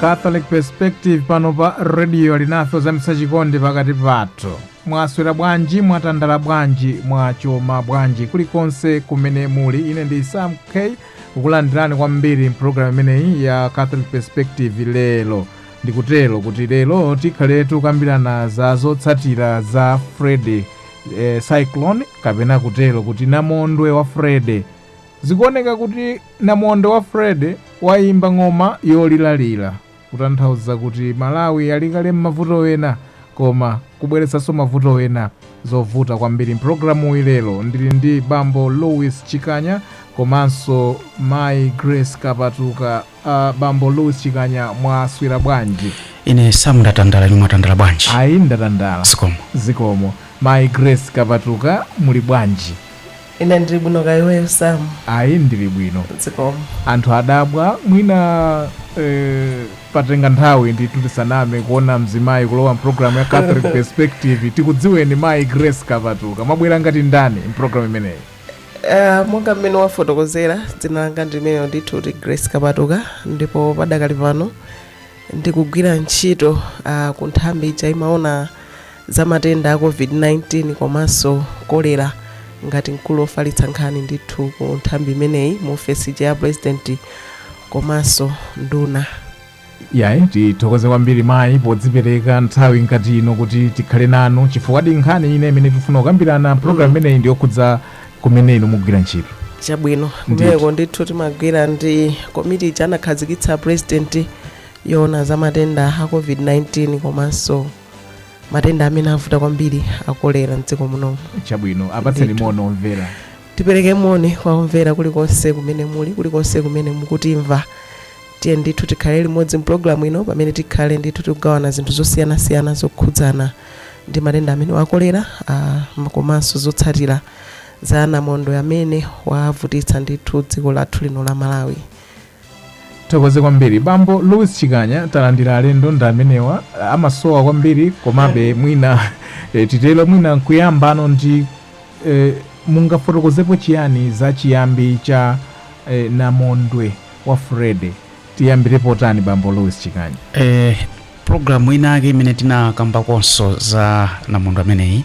catholic perspective pano pa rediyo Alinafe kuzamitsa chikondi pakati pathu mwaswera bwanji mwatandala bwanji mwachoma bwanji kulikonse kumene muli ine ndi sam k kukulandirani kwambiri mpulogalamu imeneyi ya catholic perspective lero ndikutero kuti lero tikhale tikukambirana za zotsatira za freddy eh, cyclone kapena kutero kuti namondwe wa freddy Zikuoneka kuti namondwe wa Freddy wayimba ng'oma yoliralira kutanthauza kuti Malawi ali kale mmavuto ena koma kubweretsanso mavuto ena. Zovuta kwambiri mpulogalamuyi lero ndili ndi bambo Louis Chikanya komanso mayi Grace Kapatuka. Uh, bambo Louis Chikanya mwaswera bwanji? ine sam ndatandala inu mwatandala bwanji Ayi ndatandala. zikomo Zikomo. Mayi Grace Kapatuka muli bwanji? Ine ndili bwino kaya iweyo Sam? Ayi ndili bwino. Zikomo. Anthu adabwa mwina eh, patenga nthawi ndithu tisaname kuona mzimayi kulowa mpulogalamu ya Catholic Perspective tikudziweni mayi Grace Kapatuka mwabwera ngati ndani mpulogalamu imeneyi? Uh, monga mmene wafotokozera dzina langa ndi limenelo ndithu kuti Grace Kapatuka ndipo padakali pano ndikugwira ntchito uh, ku nthambi ija imaona za matenda a covid-19 komanso kolera ngati mkulu ofalitsa nkhani ndithu ku nthambi imeneyi mu ofesi ija ya president komanso nduna yayi tithokoze kwambiri mayi podzipereka nthawi ngati ino kuti tikhale nanu chifukwadi nkhani ina imene tifuna kukambirana program imeneyi ndiyokhudza kumene inu mukugwira ntchito chabwino Ndithu. kumeneko ndithu timagwira ndi komiti ija anakhazikitsa president yoona za matenda a covid-19 komanso matenda amene avuta kwambiri akolera mdziko munomu chabwino apatseni Ndithu. moni omvera tipereke moni kwa omvera kulikonse kumene muli kulikonse kumene mukutimva tiye ndithu tikhale limodzi mpulogalamu ino pamene tikhale ndithu tikugawana zinthu zosiyanasiyana zokhudzana ndi matenda amene akolera ah, m- komanso zotsatira za namondwe amene wavutitsa ndithu dziko lathu lino la malawi tithokoze kwambiri bambo louis chikanya talandira alendo ndi amenewa amasowa kwambiri komabe mwina eh, titero mwina nkuyambano ndi eh, mungafotokozepo chiyani za chiyambi cha eh, namondwe wa Freddy Tiyambire potani bambo Louis Chikanya? Eh, programu inake imene tinakambakonso za namondwe ameneyi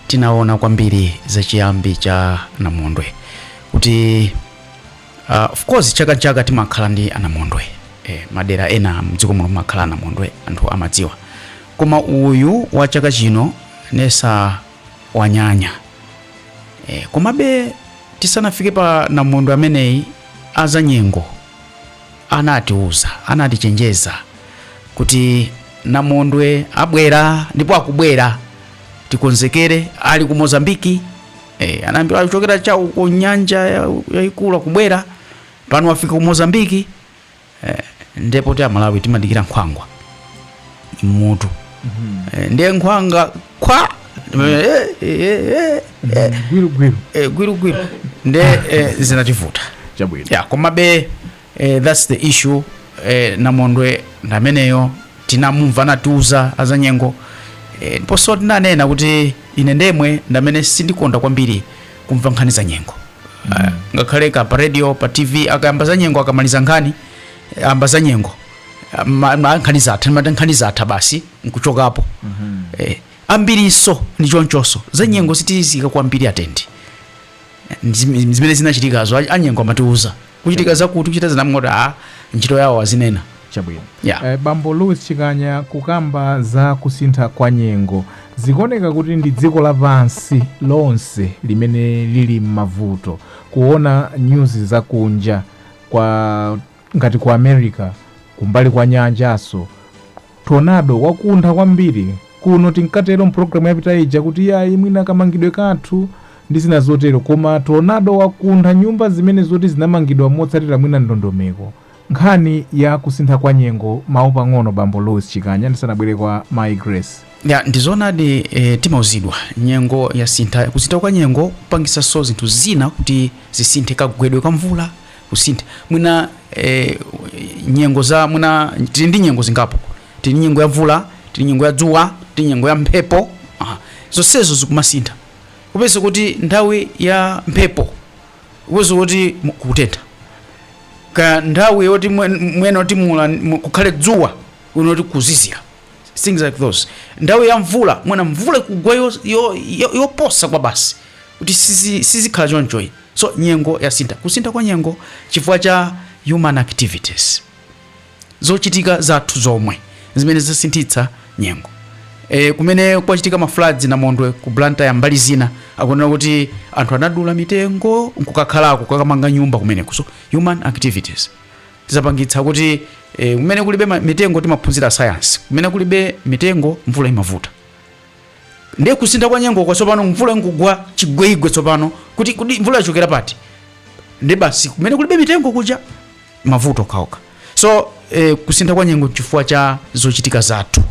tinaona kwambiri za chiyambi cha namondwe kuti uh, of course chaka chaka timakhala ndi anamondwe eh, madera ena mdziko muno mumakhala anamondwe anthu amadziwa koma uyu wa chaka chino ndiye wanyanya eh, komabe tisanafike pa namondwe ameneyi azanyengo anatiuza, anatichenjeza kuti namondwe abwera ndipo akubwera tikonzekere ali ku mozambiki eh, anayambira kuchokera cha uko nyanja ya- yayikulu akubwera pano wafika ku mozambiki eh, ndipo ife amalawi timadikira nkhwangwa m'mutu eh, ndiye nkhwanga kwa eh, eh, eh, eh, gwirugwiru eh, gwirugwiru nde eh, zinativuta chabwino ya komabe eh, thats the issue eh, namondwe ndameneyo tinamumva anatiuza azanyengo eh, ndiponso tinanena kuti ine ndemwe ndamene sindikonda kwambiri kumva nkhani za nyengo mm. ngakhale ka pa radio pa tv akayamba za nyengo akamaliza nkhani eh, ayamba za nyengo Ma- ma- nkhani zatha timati nkhani zatha basi nkuchokapo eh, ambirinso ndi chonchonso za nyengo sitiziika kwambiri atenshoni Ndi- zimene zinachitikazo a- anyengo amatiuza kuchitika zakuti kuchitika timangoti a ntchito yawo azinena chabwino Yeah. eh, bambo louis chikanya kukamba za kusintha kwa nyengo zikuoneka kuti ndi dziko lapansi lonse limene lili m'mavuto kuona nyuzi zakunja kwa Ngati ku America kumbali kwa nyanjanso tornado wakuntha kwambiri, kuno tinkatero m'programu yapita ija kuti iyayi mwina kamangidwe kathu ndi zina zotero, koma tornado wakuntha nyumba zimene zoti zinamangidwa motsatira mwina ndondomeko. Nkhani ya kusintha kwa nyengo, mawu pang'ono Bambo Louis Chikanya ndisanabwere kwa Mayi Grace. Ya, ndi zoonadi e, timauzidwa nyengo yasintha. Kusintha kwa nyengo kupangitsanso zinthu zina kuti zisinthe, kagwedwe ka mvula kusintha mwina eh, nyengo za mwina tili ndi nyengo zingapo tili ndi nyengo ya mvula tili ndi nyengo ya dzuwa tili ndi nyengo ya mphepo ah, zonsezo zikumasintha kupeza kuti nthawi ya mphepo kupeza kuti mu- kukutentha ka nthawi yoti mwen- mwene kuti mula mu- kukhale dzuwa uona kuti kuzizira things like those nthawi ya mvula mwina mvula ikugwa yo- yo- yo- yoposa kwa basi kuti sizi- sizikhala chonchoyi So nyengo yasintha, kusintha kwa nyengo chifukwa cha human activities, zochitika zathu zomwe zimene zasinthitsa nyengo. E, kumene kwachitika ma floods namondwe ku Blantyre mbali zina akunena kuti anthu anadula mitengo nkukakhalako kukamanga nyumba kumeneko. So human activities zapangitsa kuti e, kumene kulibe mitengo timaphunzira science, kumene kulibe mitengo mvula imavuta. Ndiye kusintha kwa nyengo kwa tsopano mvula nkugwa chigweigwe tsopano kuti kuti mvula yachokera pati? Ndi basi kumene kulibe mitengo kuja mavuto kawoka. So eh, kusintha kwa nyengo chifukwa cha zochitika zathu.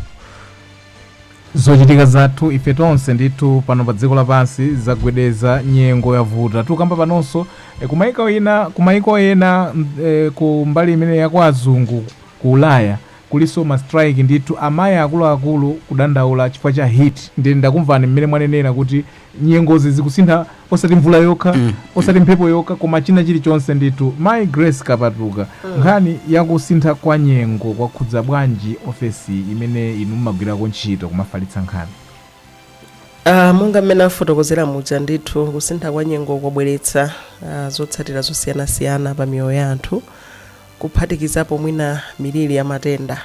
zochitika zathu ife tonse ndithu pano pa dziko lapansi zagwedeza nyengo yavuta tikukamba panonso eh, kumaiko ena kumaiko ena mm, eh, ku mbali imene ya kwa azungu ku ulaya Kulinso ma strike ndithu amai akuluakulu kudandaula chifukwa cha heat ndye ndakumvani mmene mwanenera kuti nyengozi zikusintha osati mvula yokha osati mphepo yokha koma china chilichonse ndithu. Mai Grace Kapatuka nkhani yakusintha kwa nyengo kwakhudza bwanji ofesi imene inu mmagwirako ntchito kumafalitsa nkhani? Ah, monga mmene afotokozera muja ndithu kusintha kwa nyengo kwabweretsa ah, zotsatira zosiyanasiyana pa miyoyo ya anthu kuphatikizapo mwina miliri ya matenda.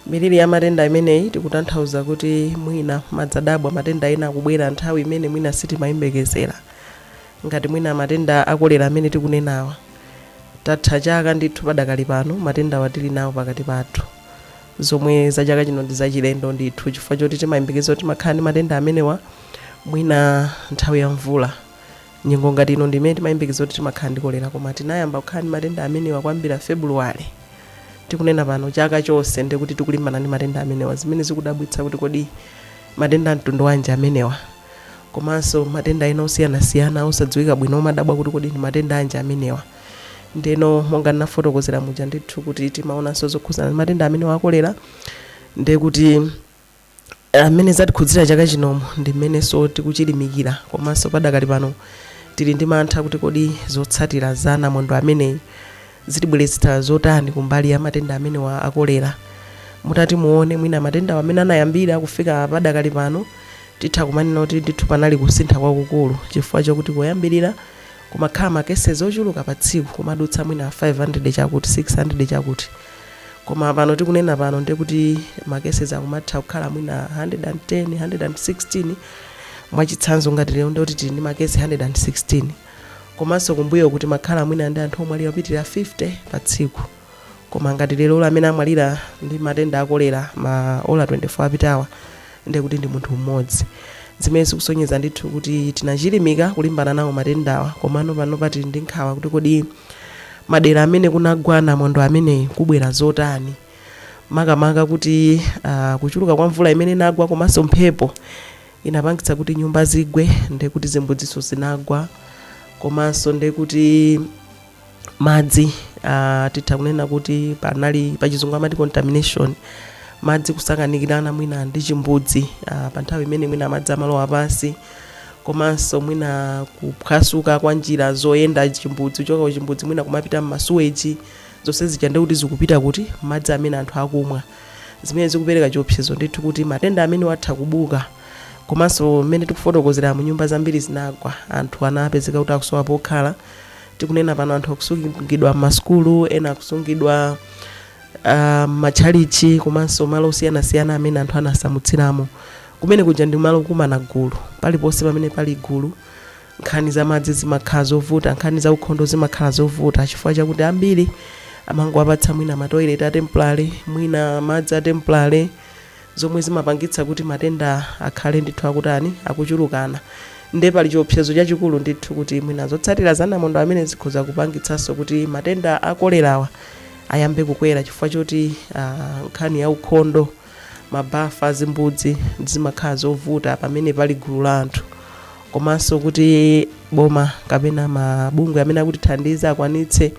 Miliri ya matenda imeneyi tikutanthauza kuti mwina mumadabwa matenda ena akubwera nthawi imene mwina sitimayembekezera, ngati mwina matenda akolera amene tikunenawa tatha chaka ndithu padakali pano matendawa tili nawo pakati pathu zomwe za chaka chino ndi zachilendo ndithu chifukwa choti timayembekeza kuti timakhala ndi matenda amenewa mwina nthawi ya mvula Nyengo ngati ino ndi imene timayembekeza kuti timakhala ndi kolera koma tinayamba kukhala ndi matenda amenewa kuyambira February tikunena pano, chaka chonse ndiye kuti tikulimbana ndi matenda amenewa zimene zikudabwitsa kuti kodi matenda a mtundu wanji amenewa komanso matenda ena osiyanasiyana osadziwika bwino umadabwa kuti kodi ndi matenda anji amenewa. Ndiyeno monga ndinafotokozera muja ndithu kuti timaonanso zokhudzana ndi matenda amenewa a kolera ndiye kuti. ah, mmene zatikhudzira chaka chinomu ndi mmenenso tikuchilimikira komanso padakali pano tili ndi mantha kuti kodi zotsatira za namondwe ameneyi zitibweretsera zotani kumbali ya matenda amenewa akolera mutati muone mwina matendawa mmene anayambira kufika padakali pano titha kumanena kuti ndithu panali kusintha kwakukulu chifukwa chakuti koyambirira kumakhala makesezi ochuluka pa tsiku kumadutsa mwina 500 chakuti 600 chakuti koma pano tikunena pano ndiye kuti ma cases akumatha kukhala mwina 110 116 mwachitsanzo ngati lero ndiye kuti tili ndi ma case 116 komanso kumbuyoku timakhala mwina ndi anthu omwalira opitirira 50 pa tsiku koma ngati leroli amene amwalira ndi matenda akolera ma ola 24 apitawa ndiye kuti ndi munthu mmodzi, zimene zikusonyeza ndithu kuti tinachilimika kulimbana nawo matendawa komano panopa tili ndi nkhawa kuti kodi madera amene kunagwa namondwe ameneyu kubwera zotani makamaka kuti ah, kuchuluka kwa mvula imene inagwa komanso mphepo inapangitsa kuti nyumba zigwe ndiye kuti zimbudzinso zinagwa komanso ndiye kuti madzi uh, titha kunena kuti panali pachizungu amati contamination madzi kusakanikirana mwina ndi chimbudzi uh, pa nthawi imene mwina madzi amalowa pansi komanso mwina kuphwasuka kwa njira zoyenda chimbudzi kuchoka ku chimbudzi mwina kumapita m'masuweji zonse zija ndi kuti zikupita kuti madzi amene anthu akumwa zimene zikupereka chiopsezo ndithu kuti matenda amenewa atha kubuka komanso mmene tikufotokozeramu nyumba zambiri zinagwa anthu anapezeka kuti akusowa pokhala tikunena pano anthu akusungidwa m'masukulu ena akusungidwa ah, m'matchalichi komanso malo osiyanasiyana amene anthu anasamutsiramo kumene kuja ndi malo okumana gulu paliponse pamene pali gulu nkhani za madzi zimakhala zovuta nkhani za ukhondo zimakhala zovuta chifukwa chakuti ambiri amangowapatsa mwina matoilet a temporary mwina madzi a temporary zomwe zimapangitsa kuti matenda akhale ndithu akutani, akuchulukana. Ndiye pali chiopsezo chachikulu ndithu kuti mwina zotsatira za namondwe ameneyu zikhoza kupangitsanso kuti matenda a kolerawa ayambe kukwera chifukwa choti ah, nkhani ya ukhondo, mabafa, zimbudzi zimakhala zovuta pamene pali gulu la anthu komanso kuti boma kapena mabungwe amene akutithandiza akwanitse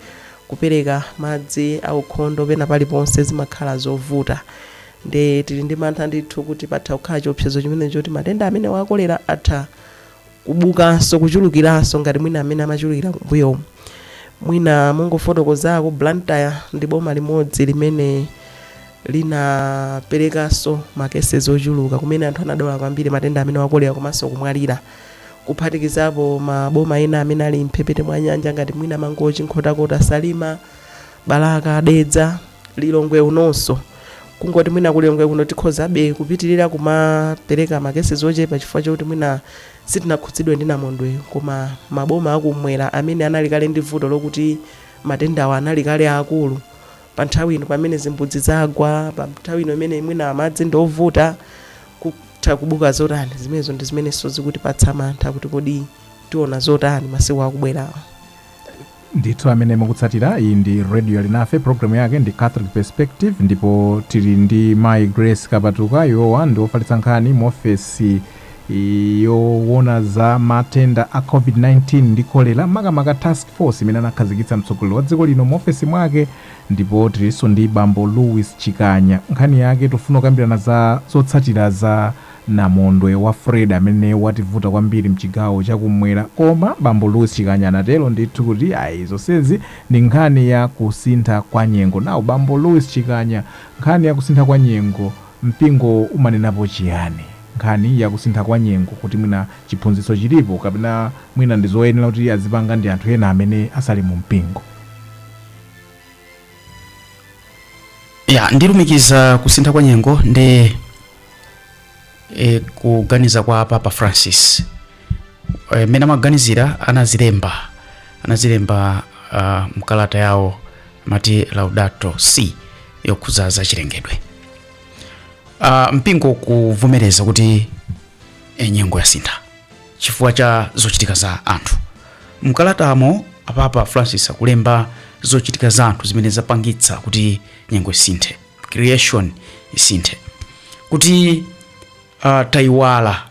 kupereka madzi aukhondo pena paliponse zimakhala zovuta Nde tili ndi mantha ndithu kuti patha kukhala chiopsezo chimenechi choti matenda amenewa a kolera atha kubukanso, kuchulukiranso ngati mwina mmene amachulukira kumbuyomu. Mwina mongofotokozako, Blantyre ndi boma limodzi limene linaperekanso ma cases ochuluka kumene anthu anadwala kwambiri matenda amenewa a kolera komanso kumwalira, kuphatikizapo maboma ena amene ali m'mphepete mwa nyanja ngati mwina Mangochi, Nkhotakota, Salima, balaka dedza lilongwe unonso kungoti mwina ku lilongwe kuno tikhozabe kupitirira kumapereka makesezi ochepa chifukwa chokuti mwina sitinakhudzidwe ndi namondwe koma maboma akumwera amene anali kale ndi vuto lokuti matendawa anali kale akulu pa nthawi ino pamene zimbudzi zagwa pa nthawi ino imene mwina madzi ndi ovuta kutha kubuka zotani zimenezo ndi zimenenso zikutipatsa mantha kuti kodi tiona zotani masiku akubwerawa ndithu amene mukutsatira iyi ndi radio alinafe programu yake ndi catholic perspective ndipo tili ndi mai grace kapatuka iwowa ndi ofalitsa nkhani mu ofesi yowona za matenda a covid-19 ndi kolera makamaka task force imene anakhazikitsa mtsogoleri wa dziko lino mu ofesi mwake ndipo tilinso ndi bambo louis chikanya nkhani yake tifuna kukambirana za zotsatira za Namondwe wa Freddy amene wativuta kwambiri mchigawo cha kummwera koma bambo Louis Chikanya anatero ndithu kuti ayi zonsezi ndi nkhani ya kusintha kwa nyengo. Nawo bambo Louis Chikanya nkhani ya kusintha kwa nyengo mpingo umanenapo chiyani? Nkhani ya kusintha kwa nyengo kuti mwina chiphunzitso chilipo kapena mwina ndi zoyenera kuti adzipanga ndi anthu ena amene asali mu mpingo? Ya, ndilumikiza kusintha kwa nyengo ndi e, kuganiza kwa papa francis e, mmene amaganizira anazilemba anazilemba uh, mkalata yawo amati laudato si yokhuza za chilengedwe uh, mpingo kuvomereza kuti e, nyengo yasintha chifukwa cha zochitika za anthu mkalatamo apapa francis akulemba zochitika za anthu zimene zapangitsa kuti nyengo isinthe creation isinthe kuti uh, taiwala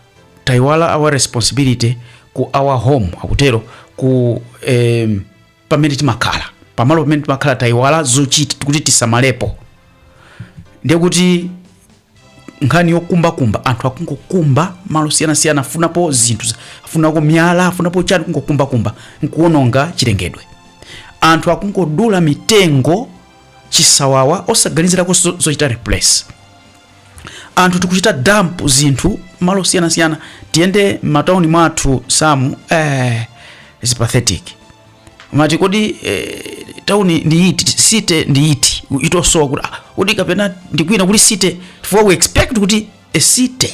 taiwala our responsibility ku our home akutero ku em, pamene timakhala pamalo pamene timakhala taiwala zochita kuti tisamalepo ndiye kuti nkhani yokumbakumba anthu akungokumba malo osiyanasiyana afunapo zinthu za- afunako miyala afunapo chani kungokumbakumba nkuononga chilengedwe anthu akungodula mitengo chisawawa osaganizirako zo- zochita replace anthu tikuchita dump zinthu malo osiyanasiyana tiyende m'matauni mwathu athu amu eh, is pathetic umati kodi eh, tauni ndi iti city ndi iti ikutosowa kuti ah, kodi kapena ndikwina kuti city chifukwa we expect kuti a city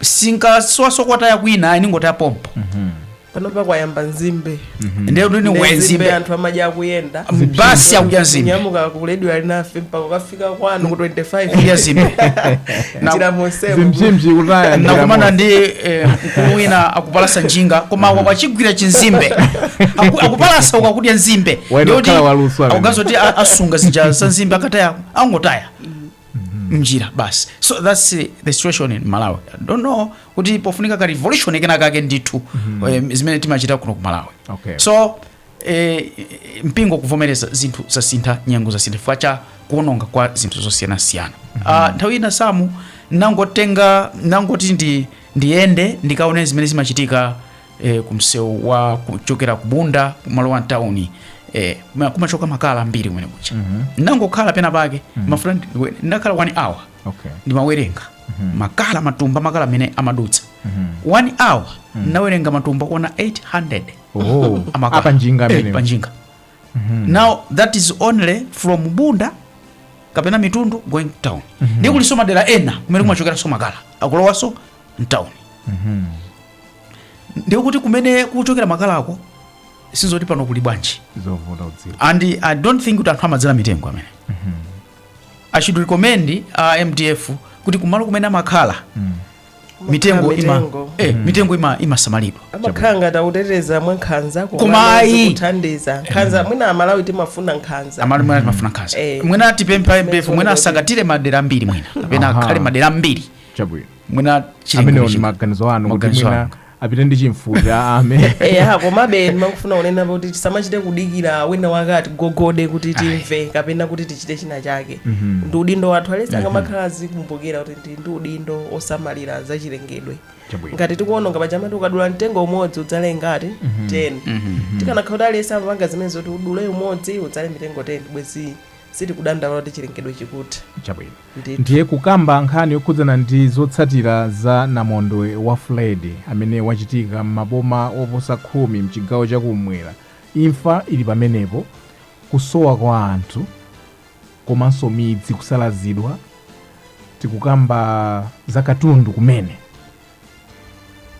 sinkasowaso kotaya kwina ayi ningotaya pompo panopa kwayamba nzimbe ndiye kuti ni wenzimbe anthu amadya akuyenda basi akudya nzimbe nyamuka ku Radio Alinafe mpaka kukafika kwanu ku 25 kudya nzimbe Na- njira monsemo zimzimzi kutaya njira nakumana mo- ndi eh, mkulu wina akupalasa njinga koma akwa kwachigwira chinzimbe Aku- akupalasa uku akudya nzimbe Waenda Ndiye kuti kukhala waluso amene. akuganiza zoti a- asunga zija za nzimbe akataya angotaya mnjira basi so thats eh, the situation in malawi I don't know kuti pofunika ka revolution kena kake ndithu eh, zimene timachita kuno ku malawi Okay. so eh, mpingo kuvomereza zinthu zasintha nyengo zasintha chifukwa cha kuononga kwa zinthu zosiyanasiyana Ah, nthawi ina samu nangotenga nangoti ndi ndiyende ndikaone zimene zimachitika e, kumsewu wa kuchokera ku bunda kumalowa town e, ma- kumachoka makala ambiri kumene kucha ndangokhala pena pake my friend ndi- ndakhala one hour okay ndimawerenga makala matumba makala amene amadutsa one hour ndinawerenga matumba kuona 800 oh amakala. a panjinga Eh, amene panjinga now that is only from bunda kapena mitundu going town ndiye kuliso madera ena kumene kumachokeraso makala akulowaso town ndiye kuti kumene kuchokera makalako sizoti pano kuli bwanji zovuta kudziwa and i don't think kuti anthu amadzala mitengo amene i should commend uh, mdf kuti kumalo kumene amakhala mitengo ima mitengo. eh, mitengo ima imasamalidwa amakhala ngati akuteteza mwa nkhanza Koma ayi. kuthandiza nkhanza mwina amalawi timafuna nkhanza amalawi mwina timafuna nkhanza Eh. mwina tipemphe mdf mwina asakatire madera ambiri mwina kapena Aha. akhale madera ambiri chabwino mwina amene chilengedwe ndi chim- maganizo anu kuti Maganizo mwina anga. apite ndi chimfuti ame eya komabe ndimafuna kunena kuti tisamachite kudikira wina wake atigogode kuti timve kapena kuti tichite china chake ndi udindo wathu aliyense angamakhala azikumbukira kuti ndi ndi udindo osamalira zachilengedwe Chabwino. ngati tikuononga paja amati ukadula mtengo umodzi udzale ngati 10 tikanakhala kuti aliyense amapanga zimenezo zoti udule umodzi udzale mitengo 10 bwezi sitikudandaula kuti chilengedwe chikutha chabwino Ndiye kukamba nkhani yokhudzana ndi zotsatira za namondwe wa Freddy amene wachitika m'maboma oposa khumi mchigawo cha kummwera, imfa ili pamenepo, kusowa kwa anthu komanso midzi kusalazidwa, tikukamba za katundu kumene.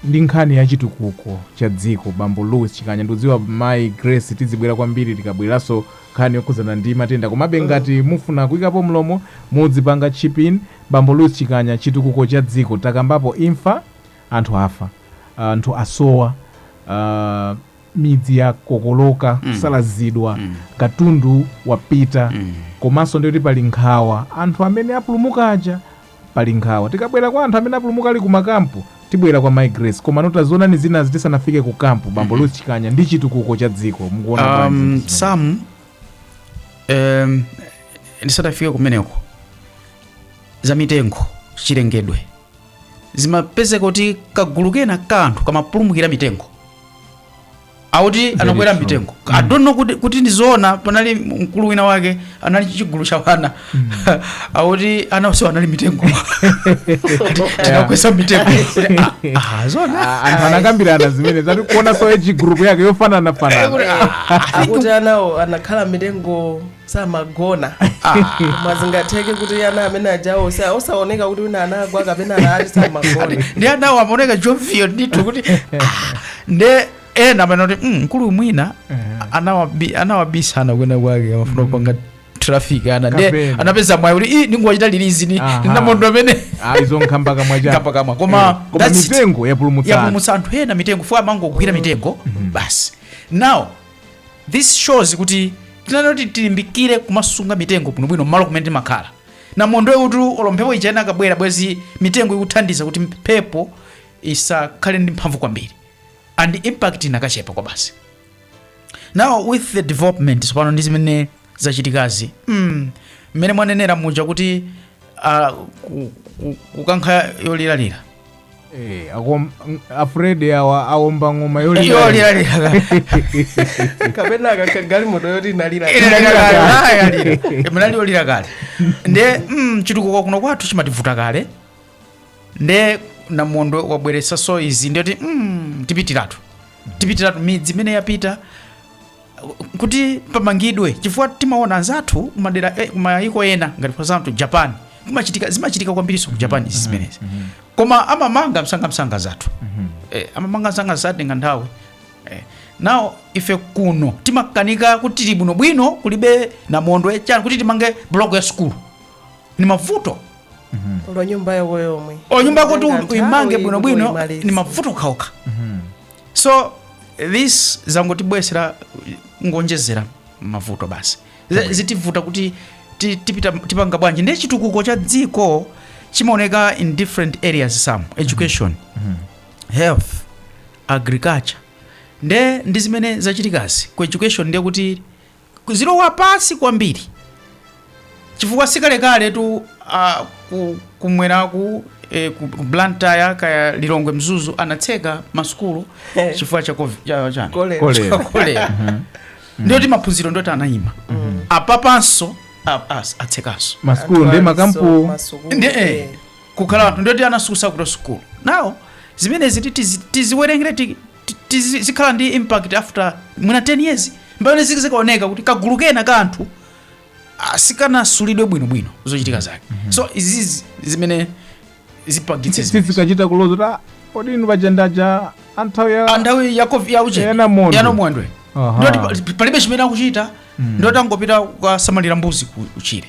ndi nkhani ya chitukuko cha dziko bambo louis chikanya ndikudziwa mayi grace tizibwera kwambiri tikabweranso nkhani yokhudzana ndi matenda komabe ngati mufuna kuyikapo mlomo mudzipanga chip in bambo louis chikanya chitukuko cha dziko takambapo imfa anthu afa anthu asowa ah, midzi yakokoloka kusalazidwa katundu wapita komanso ndikuti pali nkhawa anthu amene apulumuka aja Pali nkhawa. Tikabwera kwa anthu amene apulumuka ali ku makampu, tibwera kwa Mai Grace. Komano tazionani zinazi tisanafike ku kampu, Bambo Louis Chikanya, ndi chitukuko cha dziko. Mukuona bwanji Um, zinthu zimene- Sam, um, ndisadafike kumeneko za mitengo chilengedwe zimapezeka kuti kagulu kena ka anthu kamapulumukira m'mitengo akuti Very anakwera true. m'mitengo Mm. i don't know kuti, kuti ndizoona panali mkulu wina wake anali ndi chigulu cha wana akuti ana onse anali m'mitengo Ati, tinawakweza m'mitengo Kuti, ah, ah, zoona Ah, anthu anakambirana zimenezo ati kuonaso age group yake yofananafanana akuti anawo anakhala m'mitengo samagona koma zingatheke kuti ana amene ajawo osa- osaoneka kuti wina anagwa kapena anati samagona ndi anawo amaoneka jovial ndithu kuti ah, nde ena amanena kuti "Mm, mkulu mwina anawabi- anawabisana kwena kwake amafuna kupanga traffic ana nde Kapena. anapeza mwayi kuti "Ih, ndingowachita release ni Aha. ndi namondwe amene izo nkhamba kamwa chako Kamba kamwa. Koma koma that's it. mitengo yapulumutsana yapulumutsa anthu ena mitengo for amangogwira mitengo basi now this shows kuti timanena kuti tilimbikire kumasunga mitengo bwinobwino mmalo kumene timakhala namondwe utu olo mphepo ija inakabwera bwezi mitengo ikuthandiza kuti mphepo isakhale ndi mphamvu kwambiri and impact inakachepa kwabasi now with the development tsopano ndi zimene zachitikazi mm, mmene mwanenera muja kuti ah, ku- ku- kukankha yoliralira Eh, akom- ng- a Freddy awa aomba ng'oma yolira yoliralira kapena akankha galimoto yoti inalira inali yolira kale nde mm, chitukuko kuno kwathu chimativuta kale nde namondwe wabweretsanso izi ndiyoti mm, tipitiratu tipitiratu midzi imene yapita kuti pamangidwe chifukwa timaona anzathu kumadera eh, kumayiko ena ngati for example japan kumachitika zimachitika kwambirinso ku japan izi zimenezi koma amamanga msangamsanga anzathu eh, amamanga msanga satenga nthawi eh. now ife kuno timakanika kuti tili bwinobwino kulibe namondwe chani kuti timange block ya sukulu ni mavuto olo nyumba yako yomwe o nyumba yakuti Nthawi uimange bwinobwino uimalize. ni mavuto okhaokha so this zangotibweretsera ngonjezera mavuto basi Z- zitivuta kuti ti- tipita tipanga bwanji ndiye chitukuko cha dziko chimaoneka in different areas some education health agriculture nde ndi zimene zachitikazi ku education ndiye kuti Kudzilowa pansi kwambiri chifukwa sikalekaletu a ku kumweraku eh, ku ku Blantyre kaya Lilongwe Mzuzu anatseka masukulu Eh. chifukwa cha covid- cha- chani? Kolera. Kolera. Kolera. ndiyoti maphunziro ndiyoti anayima apapanso a- as- atsekanso masukulu ndi makampu ndi eh, kukhala anthu ndiyoti anasiyitsanso sukulu now zimenezi ti- tizi- tiziwerengere ti- tizi- zikhala ndi impact after mwina 10 years mpamene ziki zikaoneka kuti kagulu kena ka anthu ah, sikanasulidwe bwinobwino zochitika zake so izizi zimene zipagitse zimene- sifikachita kuloza kuti "Ah, kodi inu paja nda aja a nthawi ya Ah, nthawi ya covid ya uche Ya namondwe. ya namondwe Aha. ndoti palibe chimene akuchita ndoti angopita kukasamalira mbuzi kutchire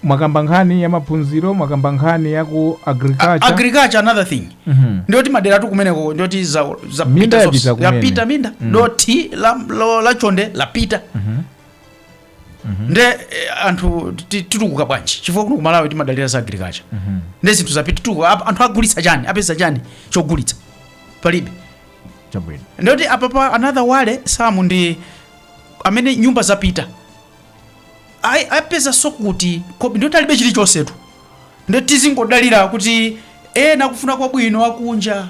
mwakamba nkhani ya maphunziro mwakamba nkhani ya ku agriculture another thing Mhm. ndiyoti maderatu kumeneko ndiyoti za, za Minda pita yapita zonse. kumene. yapita minda Mm. dothi la, lo- la chonde lapita Mhm. nde eh, anthu ti- titukuka bwanji chifukwa kuno ku Malawi timadalira za agriculture Mhm. nde zinthu zapita titukuka Apa- anthu agulitsa chani apeza chani chogulitsa palibe chabwino ndoti apapa another wale sum ndi amene nyumba zapita ayi apezanso kuti kobi ndoti alibe chilichonsetu nde tizingodalira kuti ena akufuna kwabwino akunja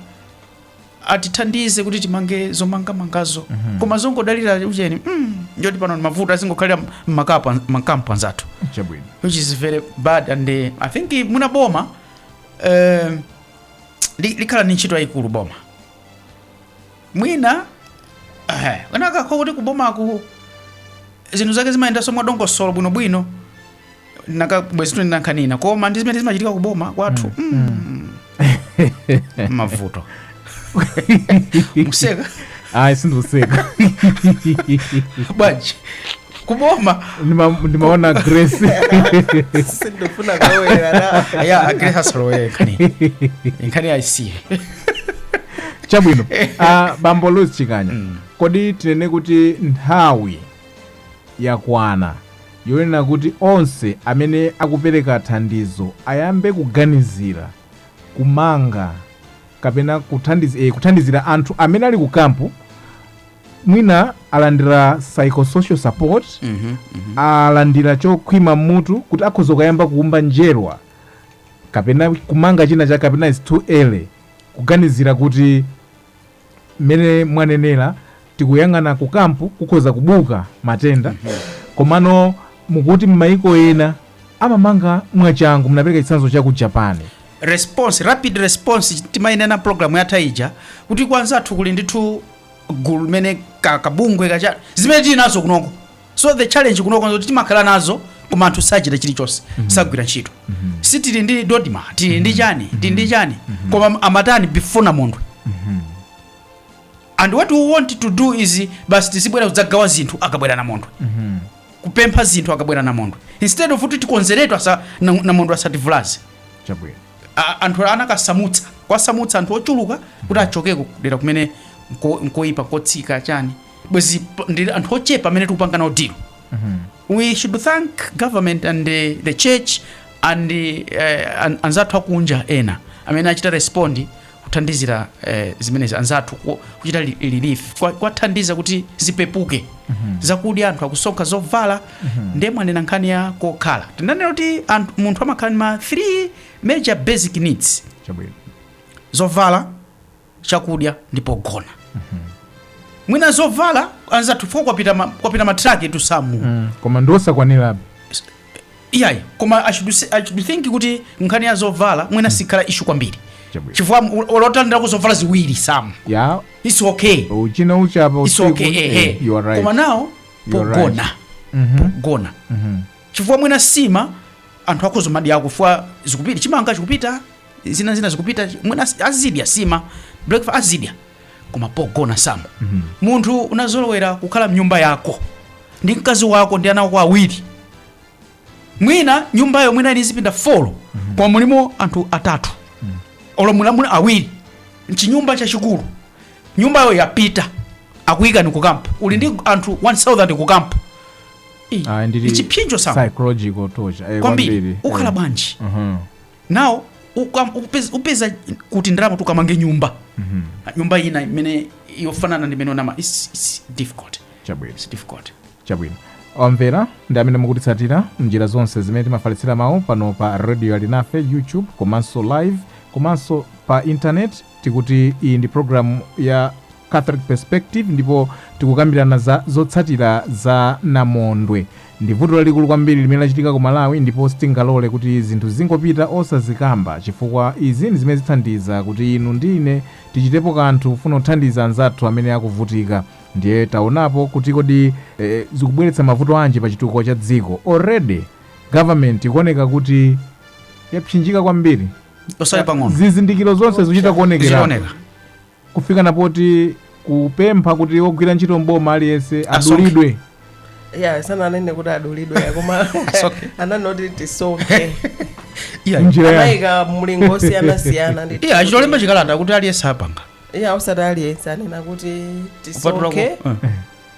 atithandize kuti timange zomangamangazo koma zongodalira ucheni mm, ndi yoti pano ndi mavuto azingokhalira mmakapu- mmakampu anzathu chabwino which is very bad and uh, i think mwina boma um, li- likhala ni ntchito yayikulu boma mwina zinakakhala kuti kubomaku zinthu zake zimayendanso mwadongosolo bwinobwino nakabwezi tikunena nkhani ina koma ndi zimene zimachitika kuboma kwathu mm. mavuto mukuseka ayi sindikuseka bwanji kuboma Ndima- ndimaona grace sindufuna kawera ya a Grace asalowere nkhani nkhani ayisiye chabwino uh, bambo louis chikanya Mm. kodi tinene kuti nthawi yakwana yonena kuti onse amene akupereka thandizo ayambe kuganizira kumanga kapena kuthandiz, eh, kuthandizira anthu amene ali ku kampu mwina alandira psychosocial support Mhm, mhm. alandira chokhwima mmutu kuti akhoza kuyamba kuumba njerwa kapena kumanga china chake kapena it's too early kuganizira kuti mmene mwanenera tikuyang'ana ku kampu kukhoza kubuka matenda komano mukuti m'mayiko ena amamanga mwachangu munapereka chitsanzo cha ku japan response rapid response timainena programu yatha ija kuti kwanzathu kuli ndithu gulu limene ka- kabungwe kacha zimene tili nazo kunoko so the challenge kunoko nzoti timakhala nazo koma anthu sachita chilichonse sagwira ntchito si tili ndi DoDMA tili ndi chani tili ndi chani koma amatani before namondwe and what we want to do is basi tizibwera kudzagawa zinthu akabwera namondwe kupempha zinthu akabwera namondwe instead of kuti tikonzeretu asa na- namondwe asativulaze chabwino a- anthu anakasamutsa kuwasamutsa anthu ochuluka kuti achokeko kudera kumene nko- nkoyipa nkotsika chani bwezi p- ndi anthu ochepa amene tikupanga nawo deal we should thank government and the, the church and uh, an, anzathu akunja ena amene anachita respond kuthandizira eh, zimenezi anzathu ku- kuchita li- relief kwa- kwathandiza kuti zipepuke zakudya anthu akusonkha zovala ndiye mwanena nkhani ya kokhala tinanena kuti anthu- munthu amakhala ndi ma 3 major basic needs chabwino zovala chakudya ndi pogona mwina zovala anzathu fwa kwapita ma- kwapita matraki etu samu koma ndiosakwanirabe iyayi koma I should say- I should think kuti nkhani ya zovala mwina sikhala issue kwambiri Chabwino. chifukwa olo atandireko zovala ziwiri samu ya it's okay ufinya uchapa it's usiku okay eh, ehe you are right koma now You are pogona Mhm, pogona mhm. chifukwa mwina sima anthu akhoza madyako fwa zikupita chimanga chikupita zina zina zikupita mwina azidya sima breakfast azidya koma pogona samu munthu unazolowera kukhala mnyumba yako ndi mkazi wako ndi ana ako awiri mwina nyumbayo mwina ili ndi zipinda folo koma mulimo anthu atatu olo mulimo awiri mchinyumba chachikulu nyumbayo yapita akuyikani kukampu uli ndi anthu 1000 kukampu Ah, ndili- ndi chipsinjo samu psychological torture eh, kwambiri ukhala eh. bwanji Mhm. now ukam- upez- upeze kuti ndalama zoti ukamange nyumba nyumba ina imene yofanana ndi imene unama it's, it's difficult chabwino it's difficult chabwino omvera ndi amene mukutitsatira mnjira zonse zimene timafalitsira mawu pano pa radio alinafe youtube komanso live komanso pa intaneti Tikuti iyi ndi programu ya Catholic Perspective ndipo tikukambirana za zotsatira za namondwe. Ndi vuto lalikulu kwambiri limene lachitika ku Malawi ndipo sitingalole kuti zinthu zingopita osazikamba chifukwa izi ndi zimene zithandiza kuti inu ndi ine tichitepo kanthu kufuna kuthandiza anzathu amene akuvutika. Ndiye taonapo kuti kodi eh, zikubweretsa mavuto anji pa chitukuko cha dziko. Already government ikuoneka kuti yapsinjika kwambiri osati pang'ono zizindikiro zonse zikuchita kuonekera zikuoneka kufika na poti kupempha kuti wogwira ntchito mboma aliyense Asonkhe. adulidwe ya sananene kuti adulidwe koma Asonkhe. anangoti tisonkhe iya njira ya anayika milingo yosiyanasiyana ndi iya achita kulemba chikalata kuti aliyense apanga iya osati aliyense anena kuti Kupatulako, tisonkhe eh.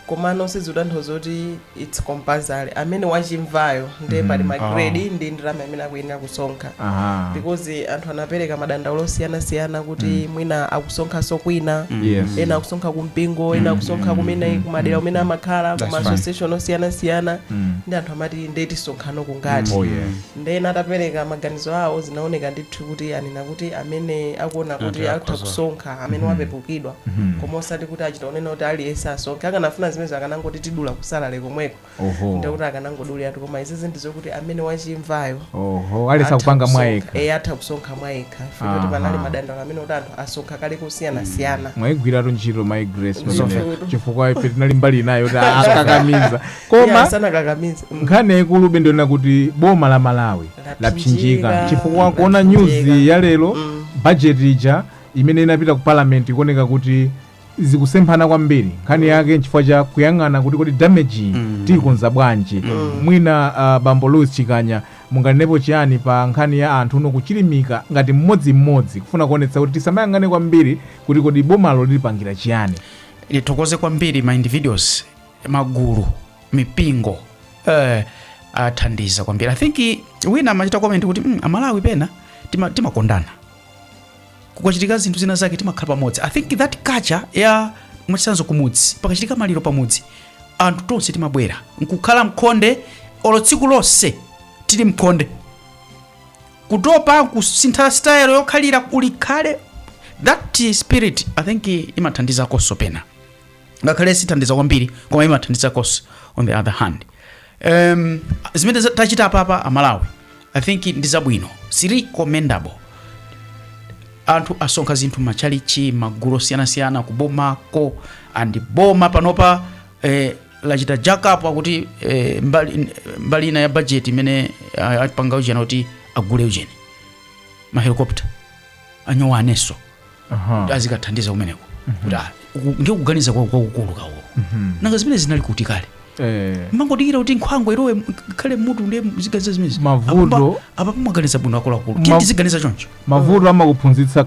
komano sizikutanthauza kuti it's compulsory amene wachimvayo nde pali ma Oh. grade ndi ndalama imene akuyenera kusonkha Aha. because anthu anapereka madandaulo osiyanasiyana kuti mwina akusonkhanso kwina Yes. ena akusonkha kumpingo ena akusonkha kumene kumadera kumene amakhala That's kuma fine. association osiyanasiyana Mm. ndi anthu amati nde tisonkhano kangati Oh, yeah. Nde ena atapereka maganizo awo zinaoneka ndithu kuti anena kuti amene akuona Anthu kuti atha akhoza kusonkha amene Mhm. wapepukidwa Mhm. koma osati kuti achita kunena kuti aliyense asonkhe akanafuna zimenezo akanangoti tidula kusalary komweko Oho. ndekuti akanangoduliratu koma izizi ndizokuti amene wachimvayo oho alesa atha kupanga kusonkha. mwayekha Eh, atha kusonkha mwayekha Aha. fikuti panali madandaulo amene kuti anthu asonkha kale kusiyanasiyana mwayigwiratu ntchito my grace Ndithu. pamene chifukwa ife tinali mbali inayo kuti akakamiza koma sanakakamize nkhani yaikulu be ndi yonena kuti boma la malawi Lapsinjika. lapsinjika chifukwa kuona Lapsinjika. news ya lero Mm. budget ija imene inapita ku parliament ikuoneka kuti zikusemphana kwambiri nkhani yake nchifukwa cha kuyang'ana kuti kodi damage iyi Mm. tiyikonza bwanji mwina uh, bambo louis chikanya munganenepo chiyani pa nkhani ya anthu uno kuchilimika ngati mmodzimmodzi kufuna kuonetsa kuti tisamayang'ane kwambiri kuti kodi bomalo lilipangira chiyani ndithokoze kwambiri ma individuals magulu mipingo eh, athandiza kwambiri i think wina amachita comment kuti mm, amalawi pena tima- timakondana kukachitika zinthu zina zake timakhala pamodzi i think that culture ya mwachitsanzo kumudzi pakachitika maliro pamudzi anthu tonse timabwera nkukhala mkhonde olo tsiku lonse tili mkhonde kutopa kusintha style yokhalira ulikhale that spirit i think imathandizakonso pena ngakhale sithandiza kwambiri koma imathandiza cos on the other hand um, zimene za- tachita apapa amalawi i think ndi zabwino ziri commendable anthu asonkha zinthu machalichi magulu osiyanasiyana kubomako ndi boma panopa eh, lachita jackup akuti eh, mbali, mbali ina ya budget imene ah, apanga ujeni kuti agule ujeni mahelikopta ma drone awonso kuti azikathandiza kumeneko kuti ah, uku- ndiye kuganiza kwa- kwakukulu kawo nanga zimene zinali kuti kale Eh, mumangodikira kuti nkhwangwa ilowe m- khale mmutu ndiye muziganiza zimenezi Mavuto- apapa mwaganiza bwino akuluakulu Ma- tiye tiziganiza choncho mavuto amakuphunzitsa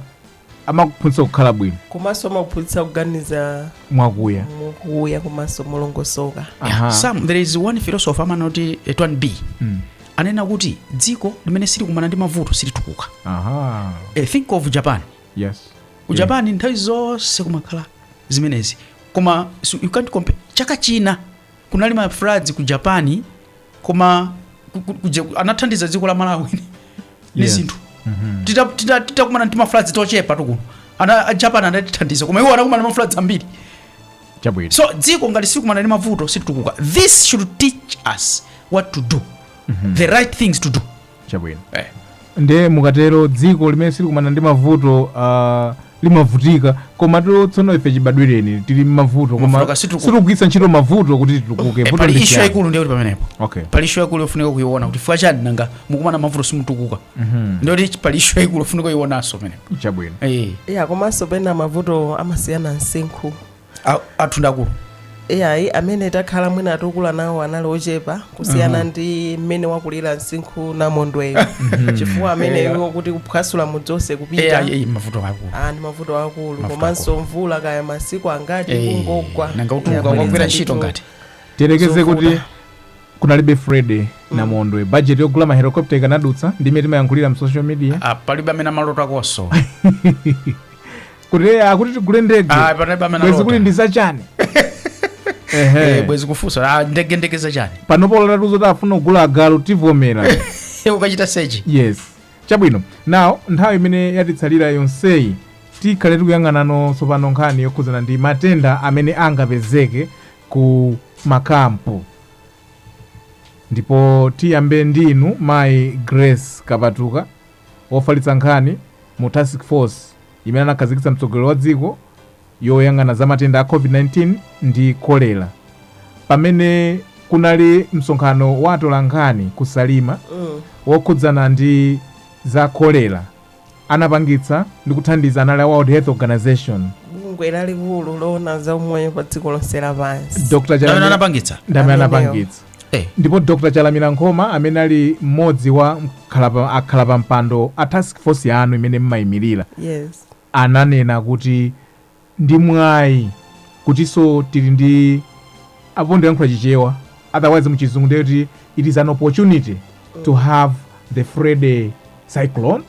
amakuphunzitsa kukhala bwino komanso amakuphunzitsa kuganiza mwakuya mukuya komanso molongosoka Aha. some there is one philosopher amanena kuti etwan b Mm. anena kuti dziko limene silikumana ndi mavuto silitukuka Aha. e, think of japan Yes. ku japan nthawi zonse kumakhala zimenezi koma so you can't compare chaka china kunali ma floods ku japan koma ku- ku- ku- je- anathandiza dziko la malawi ni Yes. zinthu Tita- tita- titakumana ndi ma floods tochepatu kuno a japan anatithandiza koma iwo anakumana ndi ma floods ambiri chabwino so dziko ngati silikumana ndi mavuto situkuka this should teach us what to do the right things to do chabwino eh. nde mukatero dziko limene silikumana ndi mavuto uh, limavutika koma tsono ife chibadwireni tili mmavuto koma Mavuto kasituku- sitikugwiritsa ntchito mavuto kuti titukuke Eh, Vuto pali ndi ishu chiyani? yaikulu ndiyo kuti pamenepo okay pali ishu yaikulu yofunika kuiona kuti chifukwa chani nanga mukumana mavuto simutukuka ndiyo kuti pali ishu yaikulu yofunika kuionanso pamenepo chabwino Eh, ya komanso pena mavuto amasiyana msinkhu a- athu ndi akulu iyayi amene takhala mwina atukula nawo anali ochepa kusiyana ndi mmene wakulira msinkhu namondweyo chifukwa amene iwo kuti kuphwasula mudzonse kupita Eh, eh, mavuto akulu Ah, ndi mavuto akulu Mavuto komanso mvula kaya masiku angati Eh, kungogwa nanga utuluke Yabweretsa kukagwira ntchito ndithu. ngati tiyerekeze kuti Zovuta. kunalibe freddy namondwe bajeti yogula mahelikopta ikanadutsa ndi mmene timayankhulira mu social media Ah, palibe amene amalotakoso kuti eh, akuti tigule ndege Ah, palibe amene bwenzi kuti alota ndi zachani Eh, Ehe. bwenzi kufunsa ah, ndege ndege zachani panopo ulota zoti afuna kugula agalu tivomera ukachita sechi yes chabwino now nthawi imene yatitsalira yonseyi tikhale tikuyang'anano tsopano nkhani yokhudzana ndi matenda amene angapezeke ku makampu ndipo tiyambe ndi inu mayi grace kapatuka wofalitsa nkhani mu task force imene anakhazikitsa mtsogoleri wa dziko yoyang'ana za matenda a covid-19 ndi kolera pamene kunali msonkhano wa atolankhani ku salima Mm. wokhudzana ndi za kolera anapangitsa ndi kuthandiza anali a World Health Organization. bungwe lalikulu loona za umoyo pa dziko lonse lapansi Dr. Ndamene Chalamila anapangitsa ndamene Amenewo. anapangitsa. Eh, Ndipo Dr. Chalamila Nkhoma amene ali mmodzi wa mkhalapa- akhala pa mpando a task force yanu imene mmayimirira yes ananena kuti ndi mwai kutinso tili ndi apo ndikulankhula chichewa otherwise muchizungu ndiye kuti it is an opportunity to have the freddy cyclone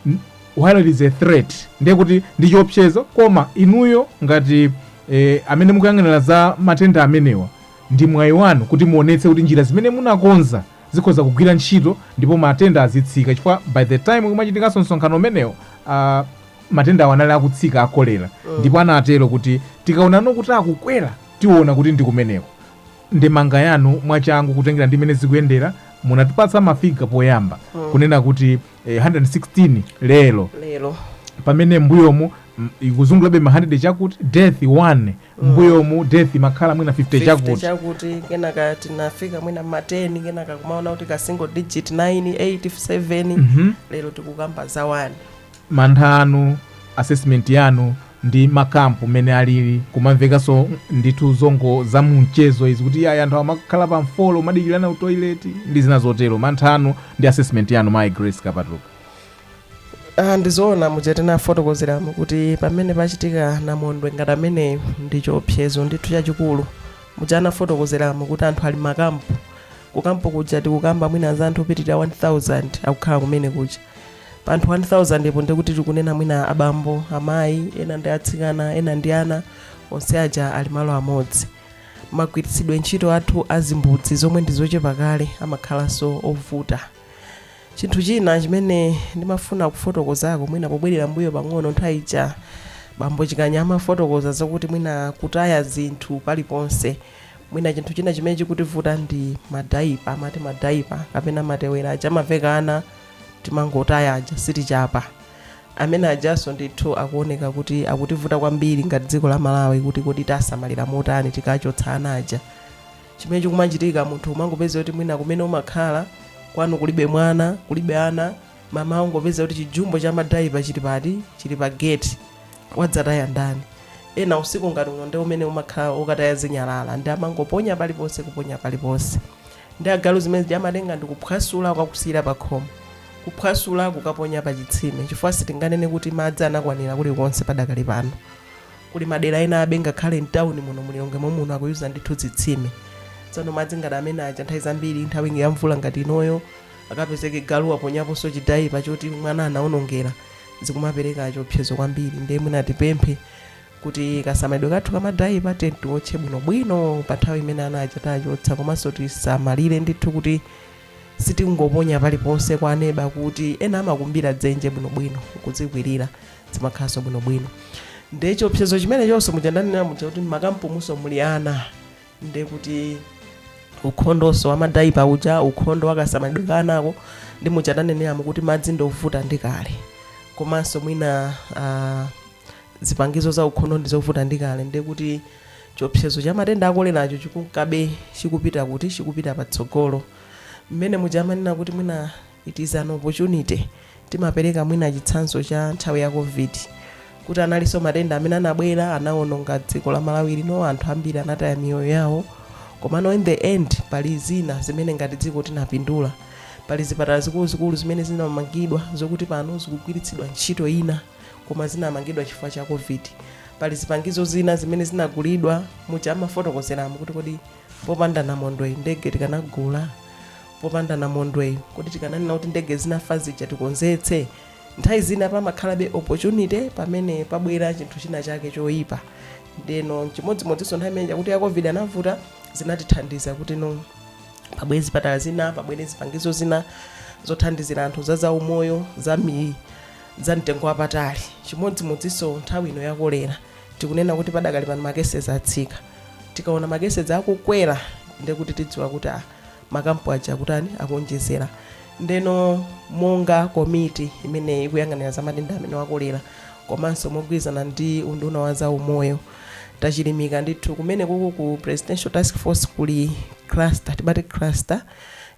N- while it is a threat ndiye kuti ndi chiopsezo koma inuyo ngati eh, amene mukuyang'anira za matenda amenewa ndi mwayi wanu kuti muonetse kuti njira zimene munakonza zikhoza kugwira ntchito ndipo matenda azitsika chifukwa by the time kumachitikanso msonkhano umenewo uh, Matendawa anali akutsika a cholera ndipo anatero kuti tikaonano kuti akukwera tiona kuti ndi kumeneko. Ndemanga yanu mwachangu kutengera ndi mmene zikuyendera munatipatsa ma figure poyamba kunena kuti eh, 116 lero lero pamene mbuyomu mm, ikuzungulabe ma 100 chakuti death 1 mbuyomu death imakhala mwina 50 50 chakuti chakuti kenaka tinafika mwina ma 10 kenaka kumaona kuti ka single digit 9 8 7 lero tikukamba za 1 mantha anu, assessment yanu ndi ma camp mmene alili kumamvekanso ndithu zongo zamumchezo izi kuti ayi anthu amakhala pa mfolo umadikirana ku toilet ndi zina zotero mantha anu ndi assessment yanu mayi grace kapatuka Ah, ndizoona muja tinafotokozeramu kuti pamene pachitika namondwe ngati ameneyo ndi chiopsezo ndithu chachikulu muja ndafotokozeramu kuti anthu ali m'makampu kukampu kuja tikukamba mwina za anthu opitirira 1000 akukhala kumene kuja pa anthu 1000po ndekuti tikunena mwina abambo amayi ena ndi atsikana ena ndi ana onse aja ali malo amodzi magwiritsidwe ntchito athu a zimbudzi zomwe ndi zochepa kale amakhalanso ovuta chinthu china chimene ndimafuna kufotokozako mwina pobwerera mbuyo pang'ono nthawi ija bambo chikanya amafotokoza zakuti mwina kutaya zinthu paliponse mwina chinthu china chimene chikutivuta ndi madaipa amati madaipa kapena matewera aja amaveka ana timangotaya aja sitichapa amene ajaso ndithu akuoneka kuti akutivuta kwambiri ngati dziko la malawi kuti kodi tiwasamalira motani tikachotsa ana aja chimene chikumachitika munthu umangopeza kuti mwina kumene umakhala kwanu kulibe mwana kulibe ana mmawa ungopeza kuti chijumbo cha madaipa chili pati chili pa gate wadzataya ndani ena usiku ngati uno ndi umene umakhala wokataya zinyalala nde amangoponya paliponse kuponya paliponse Nde agalu zimene zija amatenga ndikuphwasula kukakusiyira pakhomo. Kuphwasula kukaponya pa chitsime chifukwa sitinganene kuti madzi anakwanira kulikonse padakali pano. Kuli madera enabe ngakhale m'tauni muno mu Lilongwe momuno akuyuza ndithu zitsime. Tsono madzi ngati amene aja nthawi zambiri nthawi ya mvula ngati inoyo akapezeke galu waponyamonso chidaipa choti mwana anaonongera zikumapereka chiopsezo kwambiri ndiye mwina tipemphe kuti kasamalidwe kathu ka madaipa tiyeni tiwotche bwinobwino pa nthawi imene ana aja tachotsa komanso tisamalire ndithu kuti sitingoponya paliponse kwa aneba kuti ena amakumbira dzenje bwinobwino kuzikwirira zimakhalanso bwinobwino nde chiopsezo chimenechonso muja ndanena muja kuti mmakampumunso muli ana nde kuti ukhondonso wamadaipa uja ukhondo wakasamalidwe ka anako nde muja ndaneneramu kuti madzi ndovuta ndi kale komanso mwina ah, zipangizo za ukhondo ndi zovuta ndi kale ndiye kuti chiopsezo cha matenda a koleracho chikunkabe chikupita kuti chikupita patsogolo mmene muja amanena kuti mwina it is an opportunity timapereka mwina chitsanzo cha nthawi ya covid kuti analinso matenda amene anabwera anawononga dziko la malawi lino anthu ambiri anataya miyoyo yawo komano in the end pali zina zimene ngati dziko tinapindula pali zipatala zikuluzikulu zimene zinamangidwa zokuti pano zikugwiritsidwa ntchito ina koma zinamangidwa chifukwa cha covid pali zipangizo zina zimene zinagulidwa muja amafotokozeramo kuti kodi popanda namondweyi ndege tikanagula popanda namondweyi kodi tikananena kuti ndege zinafa zija tikonzetse nthawi zina pamakhalabe opportunity pamene pabwera chinthu china chake choyipa ndeno chimodzimodzinso nthawi imene ya kuti ya covid anavuta zinatithandiza kuti no pabwere zipatala zina pabwere zipangizo zina zothandizira anthu za zaumoyo za mi za mtengo wapatali. Chimodzimodzinso nthawi ino ya kolera, tikunena kuti padakali pano ma cases atsika. Tikaona ma cases akukwera ndiye kuti tidziwa kuti ah, makampu aja akutani akuonjezera. Ndeno monga komiti imene ikuyang'anira za matenda amenewa kolera komanso mogwirizana ndi unduna wa za umoyo tachilimika ndithu kumene kuku ku presidential task force kuli cluster timati cluster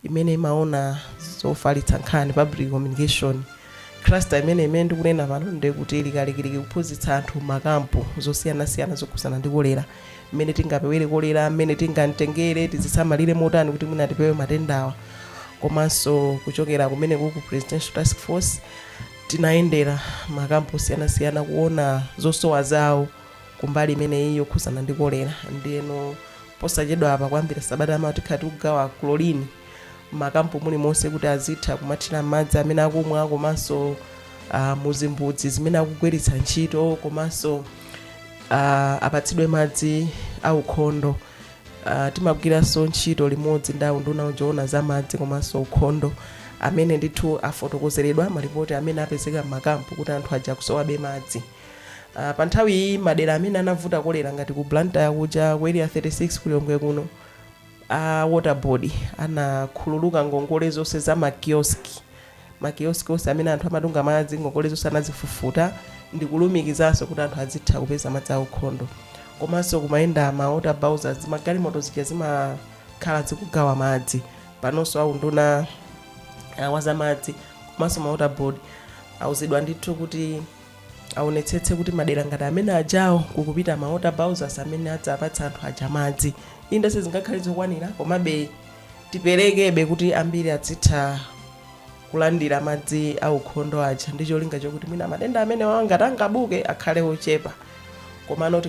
imene imaona zofalitsa nkhani public communication Cluster imeneyi imene ndikunena pano ndiye kuti ili kalikiliki kuphunzitsa anthu m'makampu zosiyanasiyana zokhudzana ndi kolera, mmene tingapewere kolera, mmene tingam'tengere, tizisamalire motani kuti mwina tipewe matendawa. Komanso kuchokera kumeneko ku Presidential Task Force tinayendera makampu osiyanasiyana kuona zosowa zawo kumbali imeneyi yokhudzana ndi kolera. Ndiyeno posachedwapa kuyambira sabata yamawa tikhala tikugawa chlorine. m'makampu mulimonse kuti azitha kumathira madzi amene akumwa komanso uh, muzimbudzi zimene akugwiritsa ntchito komanso uh, apatsidwe madzi aukhondo uh, timagwiranso ntchito limodzi ndi unduna woona za madzi komanso ukhondo amene ndithu afotokozeredwa malipoti amene apezeka m'makampu kuti anthu aja akusowabe madzi uh, pa nthawi iyi madera amene anavuta kolera ngati ku blantyre kuja ku area 36 kulilongwe kuno A water board anakhululuka ngongole zonse za ma kiosk ma kiosk onse amene anthu amatunga madzi ngongole zonse anazifufuta ndikulumikizanso kuti anthu azitha kupeza madzi aukhondo komanso kumayenda ma water bowsers zimagalimoto zija zimakhala zikugawa madzi panonso aunduna uh, wazamadzi komanso ma water board auzidwa ndithu kuti aonetsetse kuti madera ngati amene ajawa kukupita ma water bowsers amene azipatsa anthu aja madzi inde sizingakhale zokwanira komabe tiperekebe kuti ambiri azitha kulandira madzi aukhondo aja ndi cholinga chokuti mwina matenda amenewa ngati angabuke akhale ochepa komano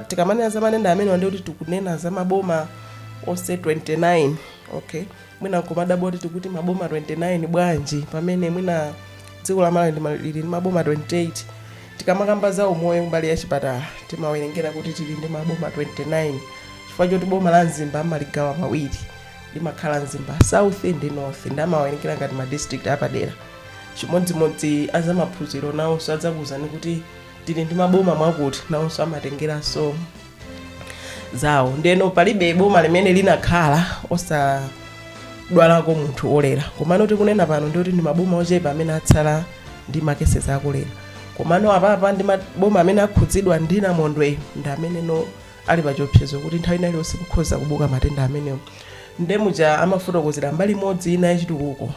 tikamanena za matenda amenewa ndikuti tikunena za maboma onse 29 okay mwina nkumadabwa oti tikuti maboma 29 bwanji pamene mwina dziko la malawi ndi ma- lili ndi maboma 28 tikamakamba za umoyo mbali ya chipatala timawerengera kuti tili ndi maboma 29 chifukwa choti boma la mzimba amaligawa pawiri limakhala mzimba south ndi north ndi amawerengera ngati ma district apadera chimodzimodzi azamaphunziro nawonso adzakuwuzani kuti tili ndi maboma mwakuti nawonso amatengeranso zawo ndeno palibe boma limene linakhala osadwalako munthu olera komano tikunena pano nditi ndi maboma ochepa amene atsala ndi makesezi akolera komano apapa ndi maboma amene akhudzidwa ndi namondweyo ndi amenenso ali pachiopsezo kuti nthawi ina iliyonse kukhoza kubuka matenda amenewo ndemuja amafotokozera mbali imodzi ina yachitukuko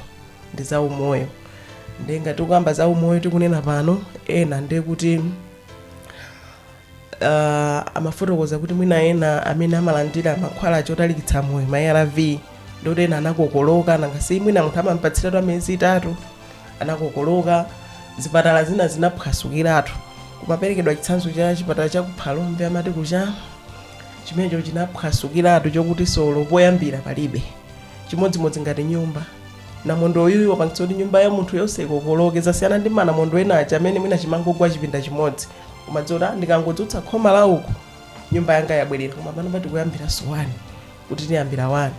ndi za umoyo ndengati ukamba za umoyo tikunena pano ena ndekuti uh, amafotokoza kuti mwina ena amene amalandira mankhwala otalikitsa moyo ma arv ndikuti ena anakokoloka nangasi mwina munthu amampatsiratu amiyezi itatu anakokoloka zipatala zina zinaphwasukiratu kumaperekedwa chitsanzo cha chipatala cha ku phalombe amati kucha chimenecho chinaphwasukiratu chokuti solo poyambira palibe chimodzimodzi ngati nyumba namondwe uyu wapangitsa kuti nyumba ya munthu yonse ikokoloke zasiyana ndi manamondwe ena aja amene mwina chimangogwa chipinda chimodzi kumadziwa oti ndikangodzutsa khoma la uku nyumba yanga yabwerera koma pano pati kuyambiranso wani kuti tiyambira wani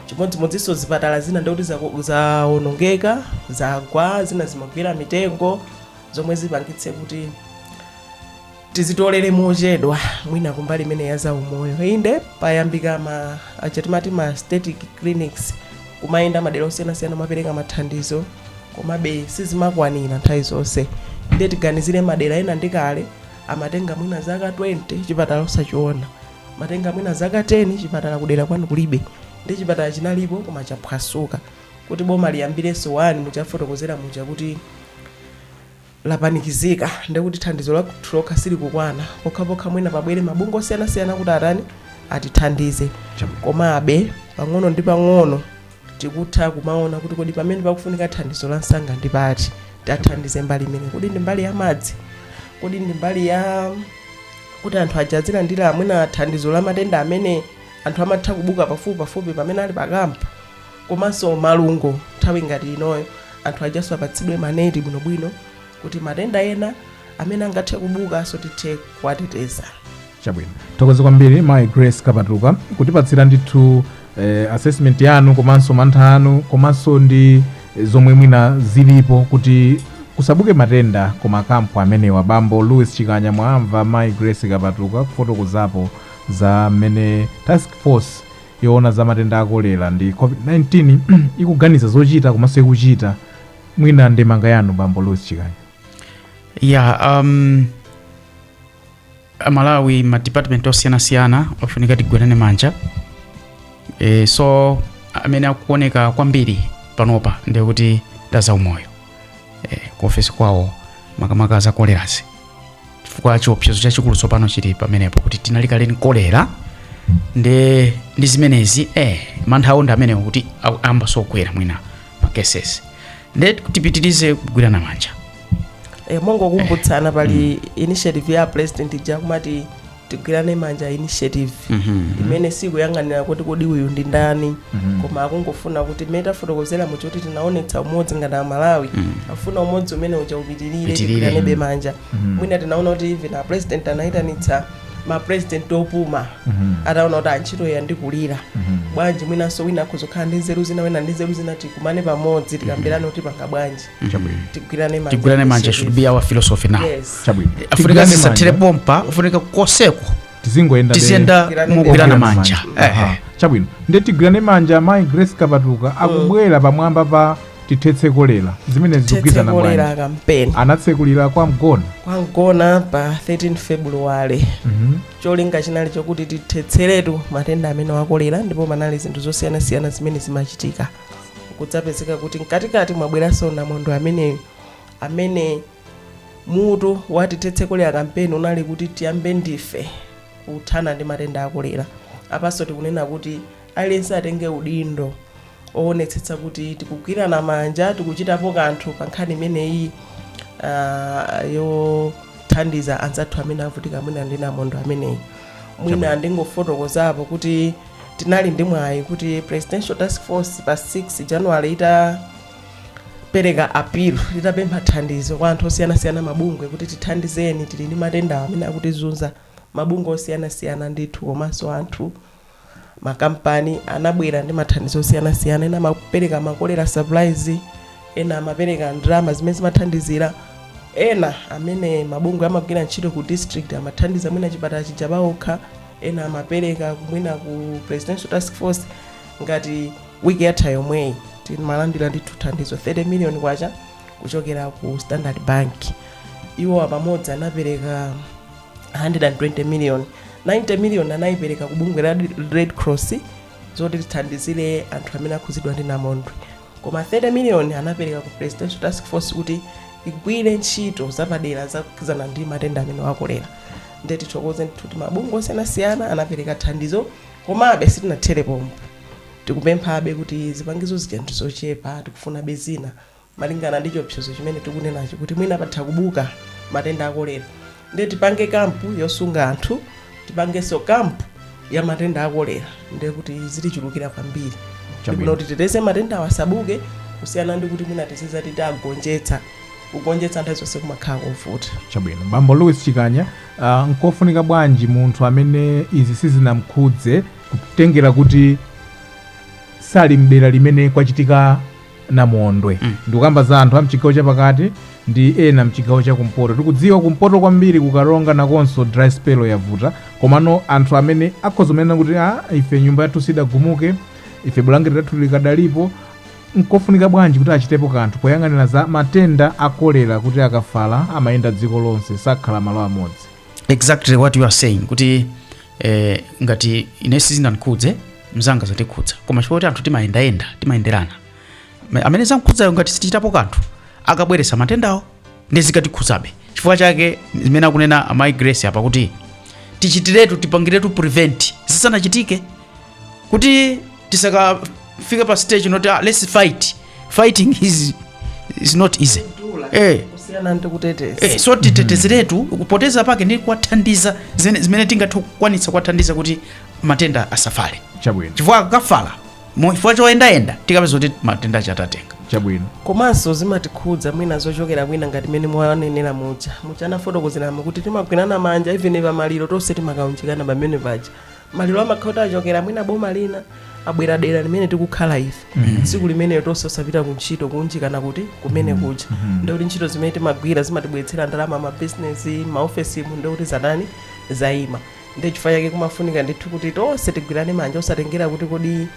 chimodzimodzinso zipatala zina ndikuti zaku- zawonongeka zagwa zina zinagwera mitengo zomwe zipangitse kuti tizitolere mochedwa mwina kumbali imene ya zaumoyo inde payambika ma achatimati ma static clinics kumayenda madera osiyanasiyana kumapereka mathandizo komabe sizimakwanira nthawi zonse ndiye tiganizire madera ena ndi kale amatenga mwina zaka 20 chipatala osachiona matenga mwina zaka 10 chipatala kudera kwanu kulibe ndi chipatala chinalipo koma chaphwasuka kuti boma liyambirenso wani mwachafotokozera muja kuti lapanikizika ndekuti thandizo lathu lokha silikukwana pokhapokha mwina pabwere mabungwe osiyanasiyana kuti atani atithandize komabe pang'ono ndi pang'ono tikutha kumaona kuti kodi pamene pakufunika thandizo la msanga ndi pati tathandize mbali imene kodi ndi mbali ya madzi kodi ndi mbali ya kuti anthu aja azilandira mwina thandizo la matenda amene anthu amatha kubuka pafupi pafupi pamene ali pakampu komanso malungo nthawi ngati inoyo anthu ajaso apatsidwe maneti bwinobwino kuti matenda ena amene angathe kubukanso tithe kuwateteza chabwino thokoze kwambiri mayi grace kapatuka kutipatsira ndithu eh, assessment yanu komanso mantha anu komanso ndi eh, zomwe mwina zilipo kuti kusabuke matenda ku makampu amenewa bambo louis chikanya mwamva mayi grace kapatuka kufotokozapo za mmene task force yoona za matenda a kolera ndi COVID-19 ikuganiza zochita komanso ikuchita mwina ndemanga yanu Bambo Louis Chikanya, ya um, amalawi ma department osiyanasiyana afunika tigwirane manja e, so amene akuoneka kwambiri panopa ndiye kuti nda zaumoyo eh, ku ofesi kwawo makamaka za kolerazi chifukwa chiopsezo chachikulu tsopano chili pamenepo kuti tinali kale ndi kolera ndi ndi zimenezi eh, mantha awo ndi amenewo kuti ayambaso kukwera mwina ma cases nde tipitirize kugwirana manja e, mongokumbutsana pali initiative ya president ija kumati tigwirane manja initiative imene sikuyang'anira kuti kodi uyu ndi ndani koma akungofuna kuti mmene tafotokozera muja kuti tinaonetsa umodzi ngati amalawi afuna umodzi umene uja upitirire tigwiranebe manja mwina tinaona kuti even a president anayitanitsa ma president opuma ataona kuti ah ntchito yandikulira bwanji mwinanso wina akhoza kukhala ndi nzeru zina wina ndi nzeru zina tikumane pamodzi tikambirane kuti tipanga bwanji tigwirane manja tigwirane manja should be our philosophy now yes chabwino afunika Tigwirane manja. zisathere pompa afunika koseko tizingoyenda tiziyenda Tigwirane mogwirana manja. manja Aha. Ehe. chabwino nde tigwirane manja mayi grace kapatuka akubwera pamwamba pa tithetse kolera zimene zikugwirizana bwanji tithetse kolera kampeni anatsekulira kwa mgona kwa mgona pa 13 february Mhm. cholinga chinali chokuti tithetseretu matenda amenewa a kolera ndipo panali zinthu zosiyanasiyana zimene zimachitika kudzapezeka kuti mkatikati mwabweranso namondwe ameneyu amene mutu wa tithetse kolera kampeni unali kuti tiyambe ndife kuthana ndi matenda a kolera apanso tikunena kuti aliyense atenge udindo owonetsetsa kuti tikugwirana manja tikuchitapo kanthu pa nkhani imeneyi ah, yothandiza anzathu amene avutika mwina ndi namondwe ameneyu mwina ndingofotokozapo kuti tinali ndi mwayi kuti presidential task force pa 6 january itapereka appeal itapempha thandizo kwa anthu osiyanasiyana mabungwe kuti tithandizeni tili ndi matenda amene akutizunza mabungwe osiyanasiyana ndithu komanso anthu makampani anabwera ndi mathandizo osiyanasiyana ena amapereka makolera supplies ena amapereka ndalama zimene zimathandizira ena amene mabungwe amagwira ntchito ku district amathandiza mwina chipatala chija paokha ena amapereka mwina ku presidential task force ngati wiki yatha yomweyi timalandira ndithu thandizo 30 million kwacha kuchokera ku standard bank iwowa pamodzi anapereka 120 million 90 million anayipereka ku bungwe la red cross zoti lithandizire anthu amene akhudzidwa ndi namondwe koma 30 million anapereka ku presidential task force kuti igwire ntchito zapadera zakhudzana ndi matenda amenewa a kolera nde tithokoze ndithu mabungwe osiyanasiyana anapereka thandizo komabe sitinathere pompo tikupemphabe kuti zipangizo zija ndizochepa tikufunabe zina malingana ndi chiopsezo chimene tikunenacho kuti mwina patha kubuka matenda akolera nde tipange kampu yosunga anthu tipangenso kampu ya matenda akolera nde kuti zitichulukira kwambiri Chabwino. ndi bwino kuti titeteze matenda awa asabuke kusiyana ndi kuti mwina tiziti tagonjetsa kugonjetsa nthawi zonse kumakhala kovuta chabwino bambo louis chikanya uh, nkofunika bwanji munthu amene izi sizinamkhudze kutengera kuti sali mdera limene kwachitika namondwe Mm. ndikukamba za anthu a mchigawo chapakati ndi ena mchigawo cha kumpoto tikudziwa kumpoto kwambiri kukaronga nakonso dry spell yavuta komano anthu amene akhoza kunena kuti ah ife nyumba yathu sidagumuke ife bulangeti lathu likadalipo nkofunika bwanji kuti achitepo kanthu poyang'anira za matenda a kolera kuti akafala amayenda dziko lonse sakhala malo amodzi exactly what you are saying kuti eh, ngati ine sizinandikhudze mzanga zatikhudza koma chifukwa kuti anthu timayendayenda timayenderana Ma- amene zamkhudzayo ngati sitichitapo kanthu akabweretsa matendawo ndi zikatikhudzabe chifukwa chake zimene akunena amayi grace apa kuti tichitiretu tipangiretu prevent zisanachitike kuti tisakafike pa stage yoti ah, let's fight fighting is, is not easy eh. kusiyana ndi kuteteza Eh, so titetezeretu kuteteza kwake ndi kuwathandiza zene- zimene tingathe kukwanitsa kuwathandiza kuti matenda asafale chabwino chifukwa akafala mu- chifukwa choyendayenda tikapeza kuti matenda aja tatenga chabwino komanso zimatikhudza mwina zochokera kwina ngati mmene mwanenera muja muja anafotokozeramo kuti timagwirana manja even pamaliro tonse timakaunjikana pamene paja maliro amakhala kuti achokera mwina boma lina abwera dera limene tikukhala ife tsiku limeneyo tonse osapita ku ntchito kuunjikana kuti kumene kuja ndikuti ntchito zimene timagwira zimatibweretsera ndalama mabizinesi maofesimu ndikuti zatani zayima ndi chifukwa chake kumafunika ndithu kuti tonse tigwirane manja osatengera kuti kodi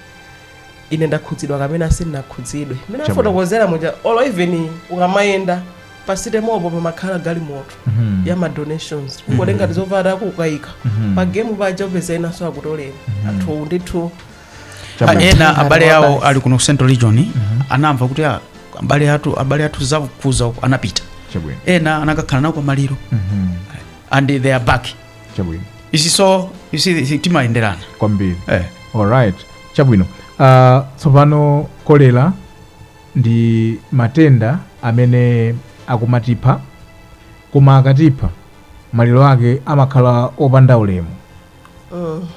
ine ndakhudzidwa kapena sindinakhudzidwe mmene Chabwino. afotokozera muja olo even ukamayenda pamsewupo pamakhala galimoto Mhm. ya ma donations ungotenga tizovala kukaika Mhm. pa game paja upeza enanso akutolera anthu ndithu Chabwino. Ah, ena abale Ngati awo wabasi. ali kuno ku central region anamva kuti ah, abale athu abale athu zawakhudza uko anapita Chabwino. ena anakakhala nawo pamaliro Mhm. and they are back chabwino you see timayenderana kwambiri eh. alright chabwino uh, tsopano kolera ndi matenda amene akumatipha koma akatipha maliro ake amakhala opanda ulemu Mm.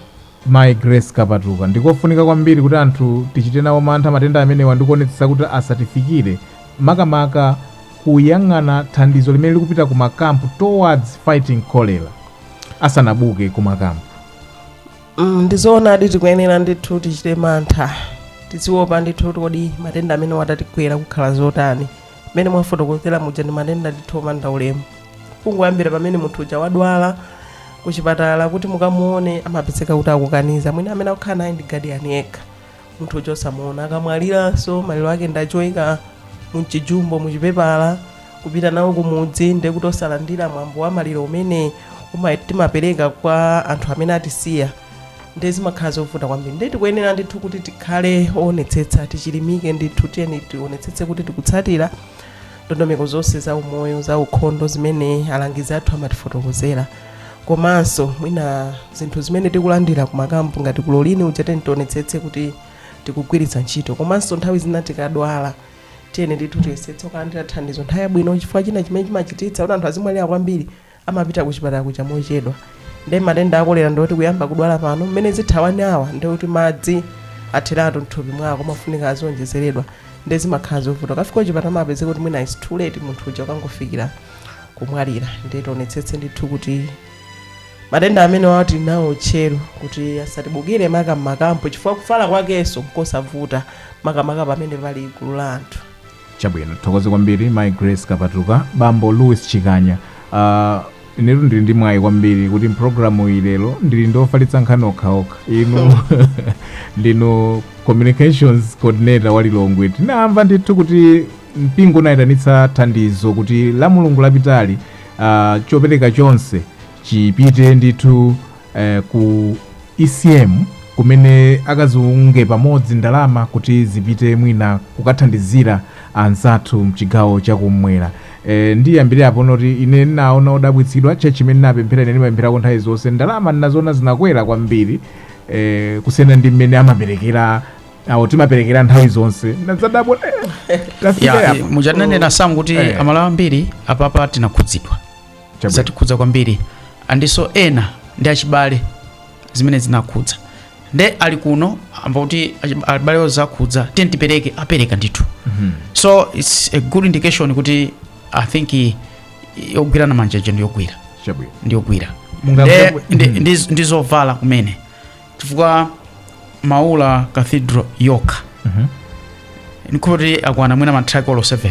Mayi Grace Kapatuka, Ndikofunika kwambiri kuti anthu tichite nawo mantha matenda amenewa ndi kuonetsetsa kuti asatifikire, makamaka kuyang'ana thandizo limene likupita ku ma camp towards fighting cholera asanabuke ku ma camp. Mm, ndizoonadi tikuyenera ndithu tichite mantha tiziwopa ndithu kuti kodi matenda amenewa atatigwera kukhala zotani mmene mwafotokozera muja ndi matenda ndithu opanda ulemu kungoyambira pamene munthu uja wadwala kuchipatala kuti mukamuone amapezeka kuti akukaniza mwina amene akukhala naye ndi gadiyani yekha munthu uja osamuona akamwaliranso maliro ake ndi achoika mchijumbo muchipepala kupita nawo kumudzi ndi kuti osalandira mwambo wa maliro umene timapereka kwa anthu amene atisiya nde zimakhala zovuta kwambiri nde tikuyenera ndithu kuti tikhale owonetsetsa tichilimike ndithu tiyeni tionetsetse kuti tikutsatira ndondomeko zonse za umoyo za ukhondo zimene alangizi athu amatifotokozera komanso mwina zinthu zimene tikulandira kumakampu ngati kulolini uja tiyeni tionetsetse kuti tikugwiritsa ntchito komanso nthawi zina tikadwala tiyeni ndithu tiyesetse kulandira thandizo nthawi yabwino chifukwa china chimene chimachititsa kuti anthu azimwalira kwambiri amapita kuchipatala kuja mochedwa ndi matenda akolera ndikuti kuyamba kudwala pano mmene izitha one hour ndikuti madzi atheratu mthupi mwako amafunika azionjezeredwa ndi zimakhala zovuta ukafika kuchipatala umapeza kuti mwina is too late munthu uja akangofikira kumwalira ndi tionetsetse ndithu kuti matenda amenewa tili nawo tchero kuti asatibukire maka mmakampu chifukwa kufala kwakenso nkosavuta makamaka pamene pali gulu la anthu Chabwino, tithokoze kwambiri Mai Grace Kapatuka, Bambo Louis Chikanya. Uh, inetu ndili ndi mwayi kwambiri kuti mpulogalamu iyi lero ndili ndi ofalitsa nkhani okhaokha inu ndinu communications coordinator wa Lilongwe. Tinamva ndithu kuti mpingo unayitanitsa thandizo kuti Lamulungu lapitali uh, chopereka chonse chipite ndithu eh, ku ecm kumene akaziunge pamodzi ndalama kuti zipite mwina kukathandizira anzathu mchigawo chakumwera e, ndiyambire apo ndoti ine ndinaona odabwitsidwa tchalitchi imene ndinapemphera ine ndimapempherako nthawi zonse ndalama ndinaziona zinakwera kwambiri e, kusiyana ndi mmene amaperekera awo timaperekera nthawi zonse ndinadzadabwa eh, tafika ya apa. mujananena sam kuti Eh. aMalawi ambiri apapa tinakhudzidwa Chabwino. zatikhudza kwambiri andiso ena ndi achibale zimene zinakhudza nde ali kuno amva kuti achi- abalewo zakhudza tiye tipereke apereka ndithu so its a good indication kuti i think i- yogwirana manja ija ndiyogwira Chabwino. ndiyogwira Munga- Nde- munga- ndi- Mhm. ndi- ndi zovala kumene chifukwa maula cathedral yokha ndikuti akwana mwina matraki olo 7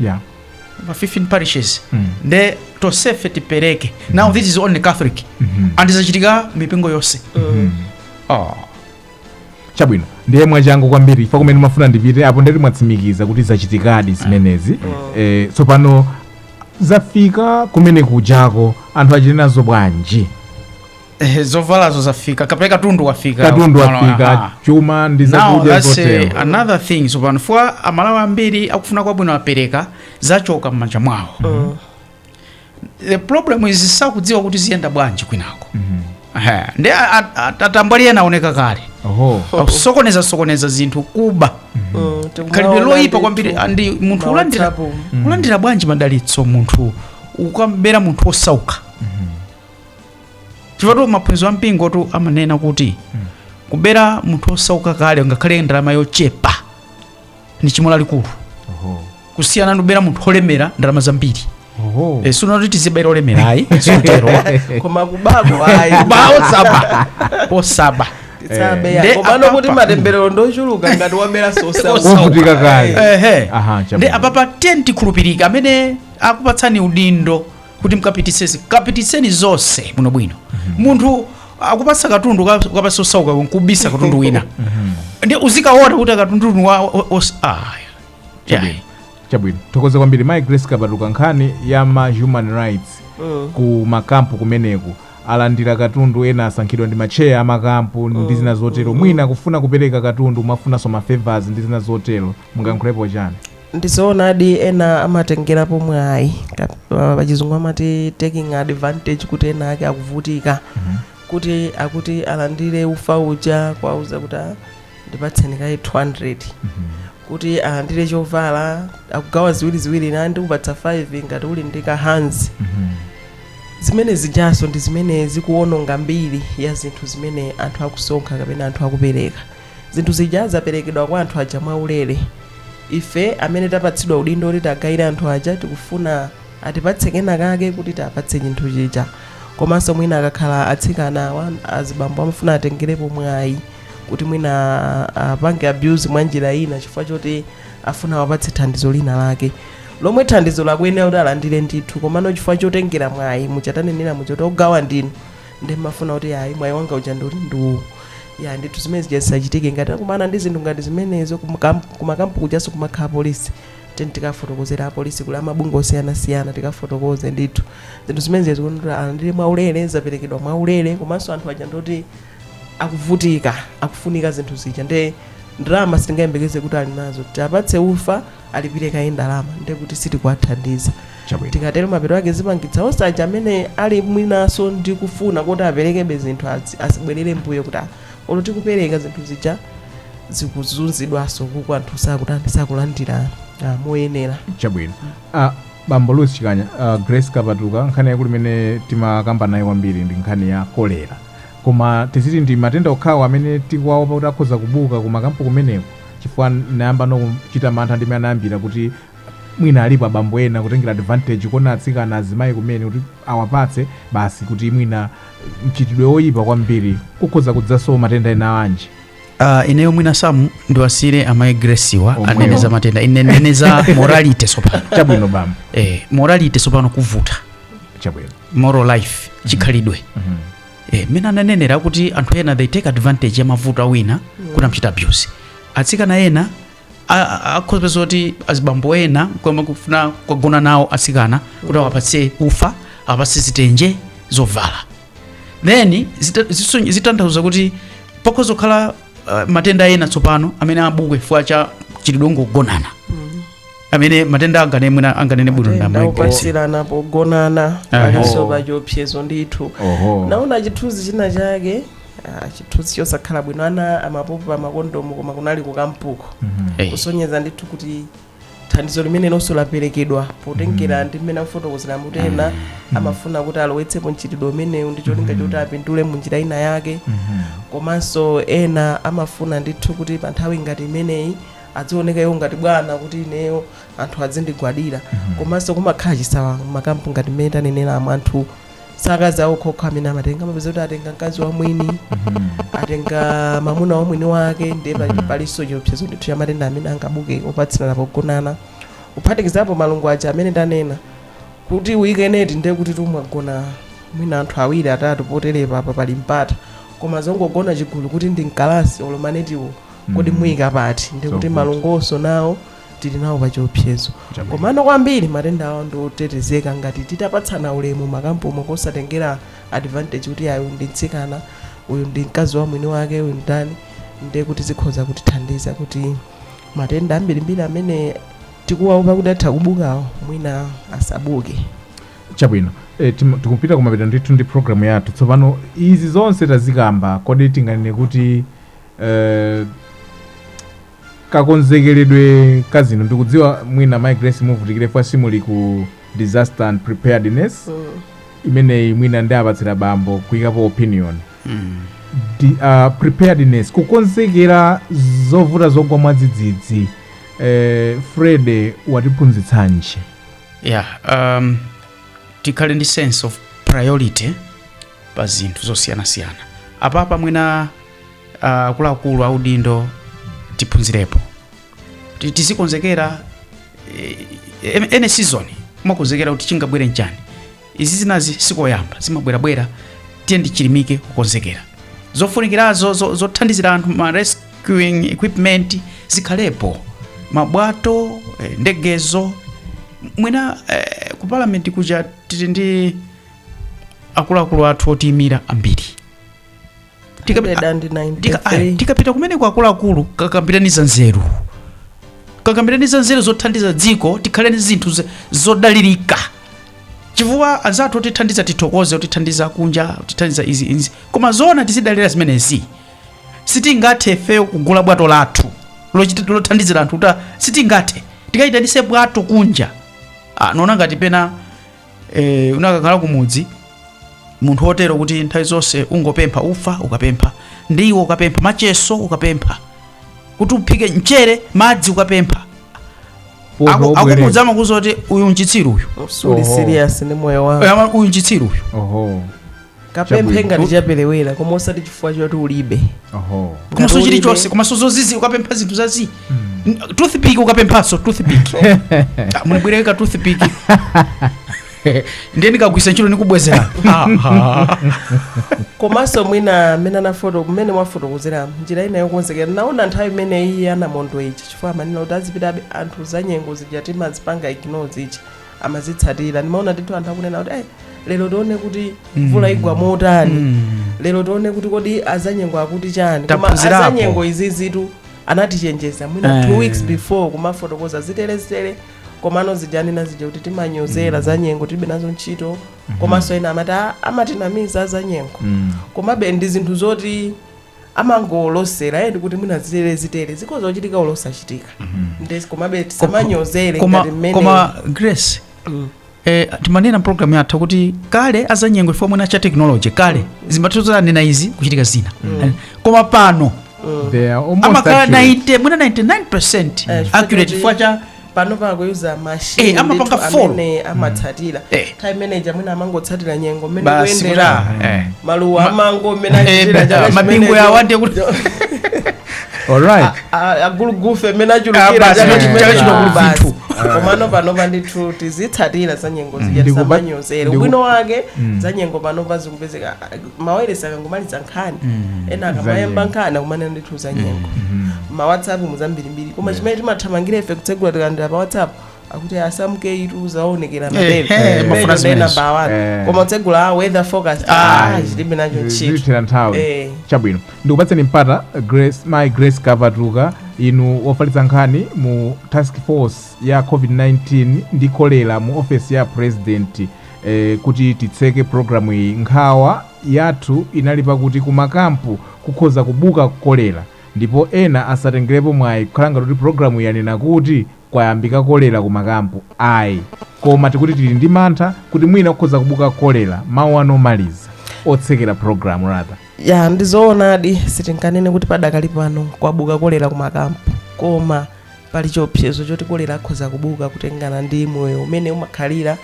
yeah. ma 15 parishes Mm. nde tosefe tipereke now this is only catholic Mhm. and zachitika mipingo yonse Ah. chabwino ndiye mwachangu kwambiri chifwa kumene mmafuna ndipite apo ndeti mwatsimikiza kuti zachitikadi zimenezi eh, tsopano zafika kumene kujako anthu achita nazo bwanji Eh, zovalazo zafika kapena katundu wafika katundu wafika chuma ndi zakudya zotero another thing tsopano fwa amalawi ambiri akufuna kwabwino apereka zachoka m'manja mwawo mm -hmm. the problem is sakudziwa kuti ziyenda bwanji kwinako mm -hmm. ndi atambwali ena aoneka kale akusokoneza sokoneza zinthu kuba mm -hmm. mm, khalidwe loyipa kwambiri andi munthu ulandira, mm. ulandira bwanji madalitso munthu ukamabera munthu osauka mm -hmm. chifukwa maphunziro a mpingotu amanena kuti kubera munthu osauka kale ngakhale ndalama yochepa ndi chimo lalikulu Oho. kusiyana ndi kubera munthu olemera ndalama zambiri Oho. Eh, sikuti tizibabera olemera ayi sitero koma kubako ayi kuba osaba osaba tisabe Nde komano apa- kuti apa- matemberero ndochuluka ngati wabera sosa Wovutika kale. ehe Aha, chabwino. ndi apapa teni tikhulupirika amene akupatsani udindo kuti mkapititseni kapititseni zonse bwinobwino munthu akupasa katundu ka- ukapasa osauka nkubisa katundu wina ndi uzikaona kuti akatundu wa o- os- ah, yeah. Chabwino. chabwino tithokoze kwambiri mai Grace Kapatuka nkhani ya ma human rights ku makampu kumeneku alandira katundu ena asankhidwa ndi macheya amakampu ndi zina zotero mwina akufuna kupereka katundu amafunanso ma favors ndi zina zotero mungayankhulepo chani ndizoonadi ena amatengerapo mwayi Ka- pa- pachizungu amati taking advantage kuti ena ake akuvutika kuti akuti alandire ufa uja kwauza kuti "Ah, ndipatseni kayi 200 kuti alandire chovala akugawa ziwiriziwiri ina ndikupatsa 5 ngati uli ndi ka hanzi zimene zijanso ndi zimene zikuononga mbiri ya zinthu zimene anthu akusonkha kapena anthu akupereka zinthu zija zaperekedwa kwa anthu aja mwaulere ife amene tapatsidwa udindo kuti tagaire anthu aja tikufuna atipatse kena kake kuti tapatse chinthu chija komanso mwina akakhala atsikana awa azibambo amafuna atengerepo mwayi kuti mwina ah, apange abuse mwa njira ina chifukwa choti afuna awapatse thandizo lina lake lomwe thandizo lakuyenera kuti alandire ndithu komano chifukwa chotengera mwayi m'chitengera m'choti ogawa ndinu nde mmafuna kuti ayi mwayi wanga uja ndi uti ndi uwu ya ndithu zimene zija zisachitike ngati akumana ndi zinthu ngati zimenezo kumakam- kumakampu kujanso kumakhala polisi teni tikafotokozera apolisi kuli amabungwe osiyanasiyana tikafotokoze ndithu zinthu zimene zija zikuyenera alandire mwaulere zaperekedwa mwaulere komanso anthu aja ndoti akuvutika akufunika zinthu zija nde ndalama sitingayembekeze kuti ali nazo tapatse ufa alipire kaye ndalama ndiye kuti sitikuwathandiza tikatero mapeto ake zipangitsa onse aja amene ali mwinaso ndi kufuna kuti aperekebe zinthu azi- azibwerera mbuyo kuti ah, olo tikupereka zinthu zija zikuzunzidwanso uko anthu sakutani sakulandira ah, moyenera chabwino ah, bambo louis chikanya ah, grace kapatuka nkhani yakula imene timakambana nayo kwambiri ndi nkhani ya kolera Koma tiziti ndi matenda okhawo amene tikuwaopa kuti akhoza kubuka ku makampu kumeneko? Chifukwa ndayambano kuchita mantha ndi mmene anayambira kuti mwina alipo abambo ena kutengera advantage kuona atsikana azimayi kumene kuti awapatse basi kuti mwina mchitidwe woyipa kwambiri kukhoza kudzaso matenda ena anjinji? Uh, ineyo mwina samu ndiwasiyire amayi Gracewa Omwewo. anene za matenda ine ndinene za morality tsopano Chabwino bambo, eh, morality tsopano kuvuta chabwino. moral life chikhalidwe Mhm. eh, mmene ananenera kuti anthu ena they take advantage ya mavuto a wina kuti amchita abuse atsikana ena a- a- akhoza kupeza kuti azibambo ena kumakafuna kugona nawo atsikana kuti awapatse ufa awapatse zitenje zovala then zita- ziso- zitanthauza kuti pakhoza kukhala uh, matenda ena tsopano amene abuke chifukwa cha chidongo kugonana amene matenda angane mwina anganene bwino ndi matenda mayi Grace opatsirana pogonana Aha. alinso pachiopsezo ndithu oho ndinaona chithunzi china chake ah, chithunzi chosakhala bwino ana amapopa makondomu koma kunali kukampuko Eh, kusonyeza ndithu kuti thandizo limenelonso laperekedwa potengera ndi mmene akufotokozera kuti ena amafuna kuti alowetsepo mchitidwe umenewu ndi cholinga choti apindule mu njira ina yake komanso ena amafuna ndithu kuti pa nthawi ngati imeneyi adzioneka iwo ngati bwana kuti ineyo anthu adzindigwadira komanso kumakhala chisawawa makampu ngati mmene tanenera amuna ndi akazi awo okhaokha amene amatenga amapeza kuti atenga mkazi wa mwini atenga mamuna wa mwini wake ndiye pali- Mhm. palinso chiopsezo ndithu cha matenda amene angabuke opatsirana pogonana kuphatikizapo malungo aja amene tanena kuti uyike neti ndiye kuti mwagona mwina anthu awiri atatu poterepa apa pali mpata koma zongogona chigulu kuti ndi mkalasi olo manetiwo kodi mm. muyika pati ndiye kuti malungonso nawo tili nawo pachiopsezo komano kwambiri matendawo ndi otetezeka ngati titapatsana ulemu makampumo kosatengera advantage kuti uyu ndi mtsikana uyu ndi mkazi wa mwini wake uyu ndani ndiye kuti zikhoza kutithandiza kuti matenda ambirimbiri amene tikuwaopa kuti atha kubukawo mwina asabuke chabwino e, tikupita kumapeto ndithu ndi programu yathu tsopano izi zonse tazikamba kodi tinganene kuti Eh, kakonzekeredwe ka zinthu ndikudziwa mwina my grace muvutikire chifukwa simuli ku disaster and preparedness imeneyi mwina ndiwapatsira bambo kuyikapo opinion Di, uh, preparedness kukonzekera zovuta zogwa mwadzidzidzi eh, fred watiphunzitsanji yeah um, tikhale ndi sense of priority pa zinthu zosiyanasiyana apapa mwina ah, akuluakulu a udindo tiphunzirepo Ti- tizikonzekera eh, ene season umakonzekera kuti chingabwere nchani izi zinazi sikoyamba zimabwerabwera tiyeni tichilimike kukonzekera zofunikirazo zo- zothandizira anthu ma rescuing equipment zikhalepo mabwato eh, ndegezo mwina eh, ku parliament kuja tili ndi akuluakulu athu otiyimira ambiri Tikapita- Ndeda ndi Tika- ayi, 93 tikapita kumene kwa akuluakulu kakambiraneni za nzeru kakambiraneni za nzeru zothandiza dziko tikhale ndi zinthu ze- zodalirika chifukwa anzathu otithandiza tithokoze otithandiza kunja otithandiza izi izi koma zoona tizidalira zimenezi sitingathe ifeyo kugula bwato lathu lochita- lothandizira anthu kuti sitingathe tikaitanise bwato kunja ah, naona ngati pena e, unakakhala kumudzi munthu wotero kuti nthawi zonse ungopempha ufa ukapempha ndiwo ukapempha macheso ukapempha kuti uphike mchere madzi ukapempha Ufa Aku- ubwereka. akumudzi amakuuza kuti uyu nchitsiru uyu Suli Oho. serious ndi moyo wako Ama- uyu nchitsiru uyu Oho. kapemphe Chabwino. ngati chapelewera koma osati chifukwa choti ulibe oho Ngati komanso ulibe- chilichonse komanso zozizi ukapempha zinthu zazi toothpick ukapemphanso toothpick Ah, mundibwereka toothpick ndiye ndikagwiritsa ntchito ndikubwezera komanso mwina mmene anafoto mmene mwafotokozera njira ina yokonzekera naona nthawi imene iyi ya namondwe ichi chifukwa amanena kuti azipitabe anthu zanyengo zija timazipanga ignore zichi amazitsatira ndimaona ndithu anthu akunena kuti "Eh, lero tione kuti Mm. mvula igwa motani Mm. lero tione kuti kodi azanyengo akuti chani koma Taphunzirapo. azanyengo izizitu anatichenjeza mwina Eh. two weeks before kumafotokoza ziterezitere komano zija ananena zija kuti timanyozera zanyengo tilibe nazo ntchito komanso ena amati "Ah, amatinamiza azanyengo Mm. komabe ndi zinthu zoti amangolosera eh, ndikuti mwina zitere zitere zikhoza kuchitika olo osachitika ndes komabe tisamanyozere koma, ngati mmene koma grace eh, timanena mu pulogalamu yathu kuti kale azanyengo chifukwa mwina cha tekinoloji kale zimathoza anena izi kuchitika zina Eh, koma pano They are almost amakhala accurate. 90 mwina 99 Eh, chifukwa accurate choti- chifukwa cha panopa akuyuza machine Eh, amapanga ndithu follow. amene amatsatira Eh. nthawi imene ija mwina amangotsatira nyengo mmene Basi kuyendera kuti, eh. maluwa Ma- amango mmene Eh, achitira chaka mabingu chimenecho. yawo nde kuti alright A- a- agulugufe mmene Ah, achulukira basi, chaka chaka chimenecho. chino kuli Basi. zinthu. komano panopa ndithu tizitsatira za nyengo zija Ndikuba- tisamanyozere ndiku- ubwino wake za nyengo panopa zikupezeka mawayilesi akangomaliza nkhani ena akamayamba nkhani akumanena ndithu za nyengo ma whatsapp muzambirimbiri koma chimene timathamangira ife kutsegula tikalandira pa whatsapp akuti asamuke itu zaonekera Eh, mabebe eh, mafuna Imeneyo zimenezo. namba wani Eh. koma kutsegula a weather forecast Ah. ah, tilibe nacho ntchito zitithera nthawi Eh. chabwino ndikupatseni mpata mayi grace kavatuka inu wofalitsa nkhani mu task force ya covid-19 ndi kolera mu ofesi ya president E, kuti titseke programu iyi, nkhawa yathu inali pakuti kumakampu kukhoza kubuka kolera ndipo ena asatengerepo mwayi kukhala ngati kuti programu iyi yanena kuti kwayambika kolera kumakampu ayi koma tikuti tili ndi mantha kuti mwina kukhoza kubuka kolera mawu anu omaliza otsekera programu rather ya ndizoonadi sitinganene kuti padakali pano kwabuka kolera kumakampu koma pali chiopsezo choti kolera akhoza kubuka kutengana ndi moyo umene umakhalira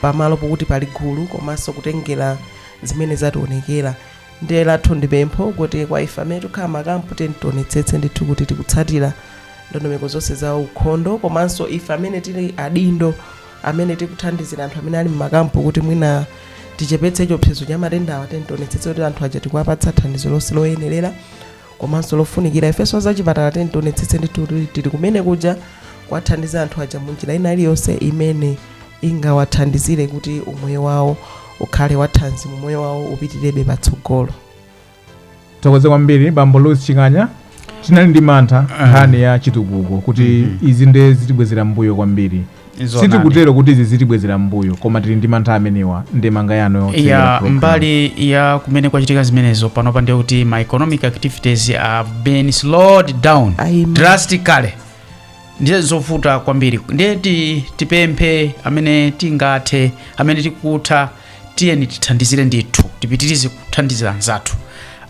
pamalo pokuti pali gulu komanso kutengera zimene zationekera ndiye lathu ndi pempho kuti kwa ife amene tikukhala mmakampu tiyeni tionetsetse ndithu kuti tikutsatira ndondomeko zonse za ukhondo komanso ife amene tili adindo amene tikuthandizira anthu amene ali mmakampu kuti mwina tichepetse chiopsezo cha matendawa tiyeni tionetsetse kuti anthu aja tikuwapatsa thandizo lonse loyenerera komanso lofunikira ifenso azachipatala tiyeni tionetsetse ndithu kuti tili kumene kuja kuwathandiza anthu aja munjira ina iliyonse imene ingawathandizire kuti umoyo wawo ukhale wathanzi umoyo wawo upitirebe patsogolo tithokoze kwambiri bambo louis chinganya tinali ndi mantha nkhani ya chitukuko kuti izi nde zitibwezera mbuyo kwambiri Nzoonadi. sitikutero kuti izi zitibwezera mbuyo koma tili ndi mantha amenewa ndemanga yanu yotsekera ya program. mbali ya kumene kwachitika zimenezo panopa ndiye kuti ma economic activities have been slowed down drastically ndiye zovuta kwambiri ndiye ti, tipemphe amene tingathe amene tikutha tiyeni tithandizire ndithu tipitirize kuthandizira anzathu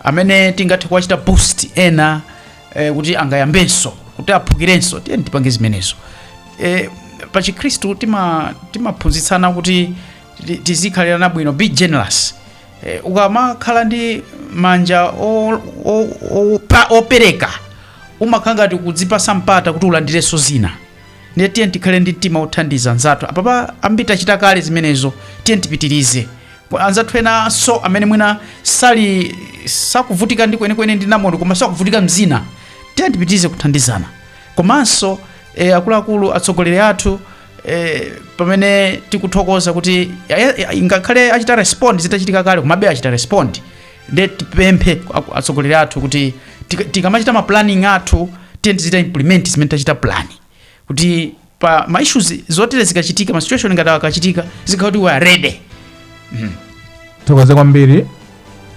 amene tingathe kuwachita boost ena eh, kuti angayambenso kuti aphukirenso tiyeni tipange zimenezo e, pa chikhristu tima timaphunzitsana kuti ti- tizikhalirana bwino be generous e, ukamakhala ndi manja o- o- o- pa- opereka umakhala ngati kudzipatsa mpata kuti ulandirenso zina ndiye tiyeni tikhale ndi mtima wothandiza anzathu apapa ambiri tachita kale zimenezo tiyeni tipitirize Kwa anzathu enanso amene mwina sali sakuvutika ndi kwenikweni ndi namondwe koma sakuvutika mzina tiyeni tipitirize kuthandizana Komanso e, akuluakulu atsogoleri athu e, pamene tikuthokoza kuti ngakhale achita respond zitachitika kale komabe achita respond nde tipemphe atsogoleri athu kuti tikamachita ma planning athu tiye tizichita implement zimene tachita plan kuti pa ma issues zotere zikachitika ma situation ngati akachitika zikhala kuti we are ready tithokoze kwambiri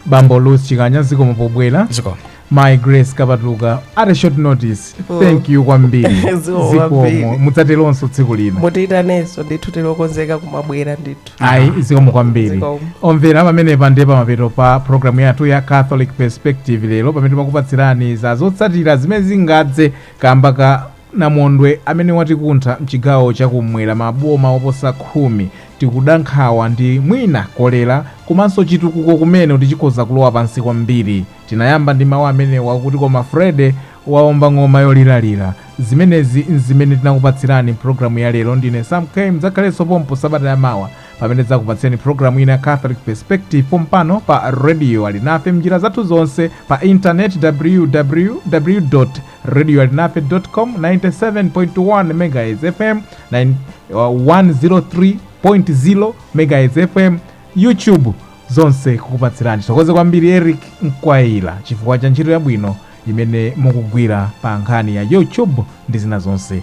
bambo luth chikanya zikomo pobwera zikomo my grace kapatuka at a short notice Oh. thank you kwambiri Zikomo kwambiri. zikomo mudzatelonso tsiku lina mutiitanenso ndithu tilokonzeka kumabwera ndithu ayi zikomo kwambiri Zikomo. omvera pamene pandi pamapeto pa programu yathu ya catholic perspective lero pamene timakupatsirani za zotsatira zimene zingadze kamba ka Namondwe amene watikuntha mchigawo cha ku m'mwera ma boma oposa khumi, tikuda nkhawa ndi mwina kolera komanso chitukuko kumene kuti chikhoza kulowa pansi kwambiri. Tinayamba ndi mawu amenewa kuti koma Freddy waomba ng'oma yolilitsa. Zimenezi n'zimene tinakupatsirani m'programu ya lero. Ndine Sam K. Mdzakhalenso pompo sabata ya mawa pamene tidzakupatsirani programu ina ya Catholic Perspective pompano pa Radio Alinafe m'njira zathu zonse pa internet ww. radio alinafe com 97.1 megahertz fm 9 uh, 103.0 megahertz fm youtube zonse kukupatsirani tithokoze kwambiri eric mkwaila chifukwa cha ntchito yabwino imene mukugwira pa nkhani ya youtube ndi zina zonse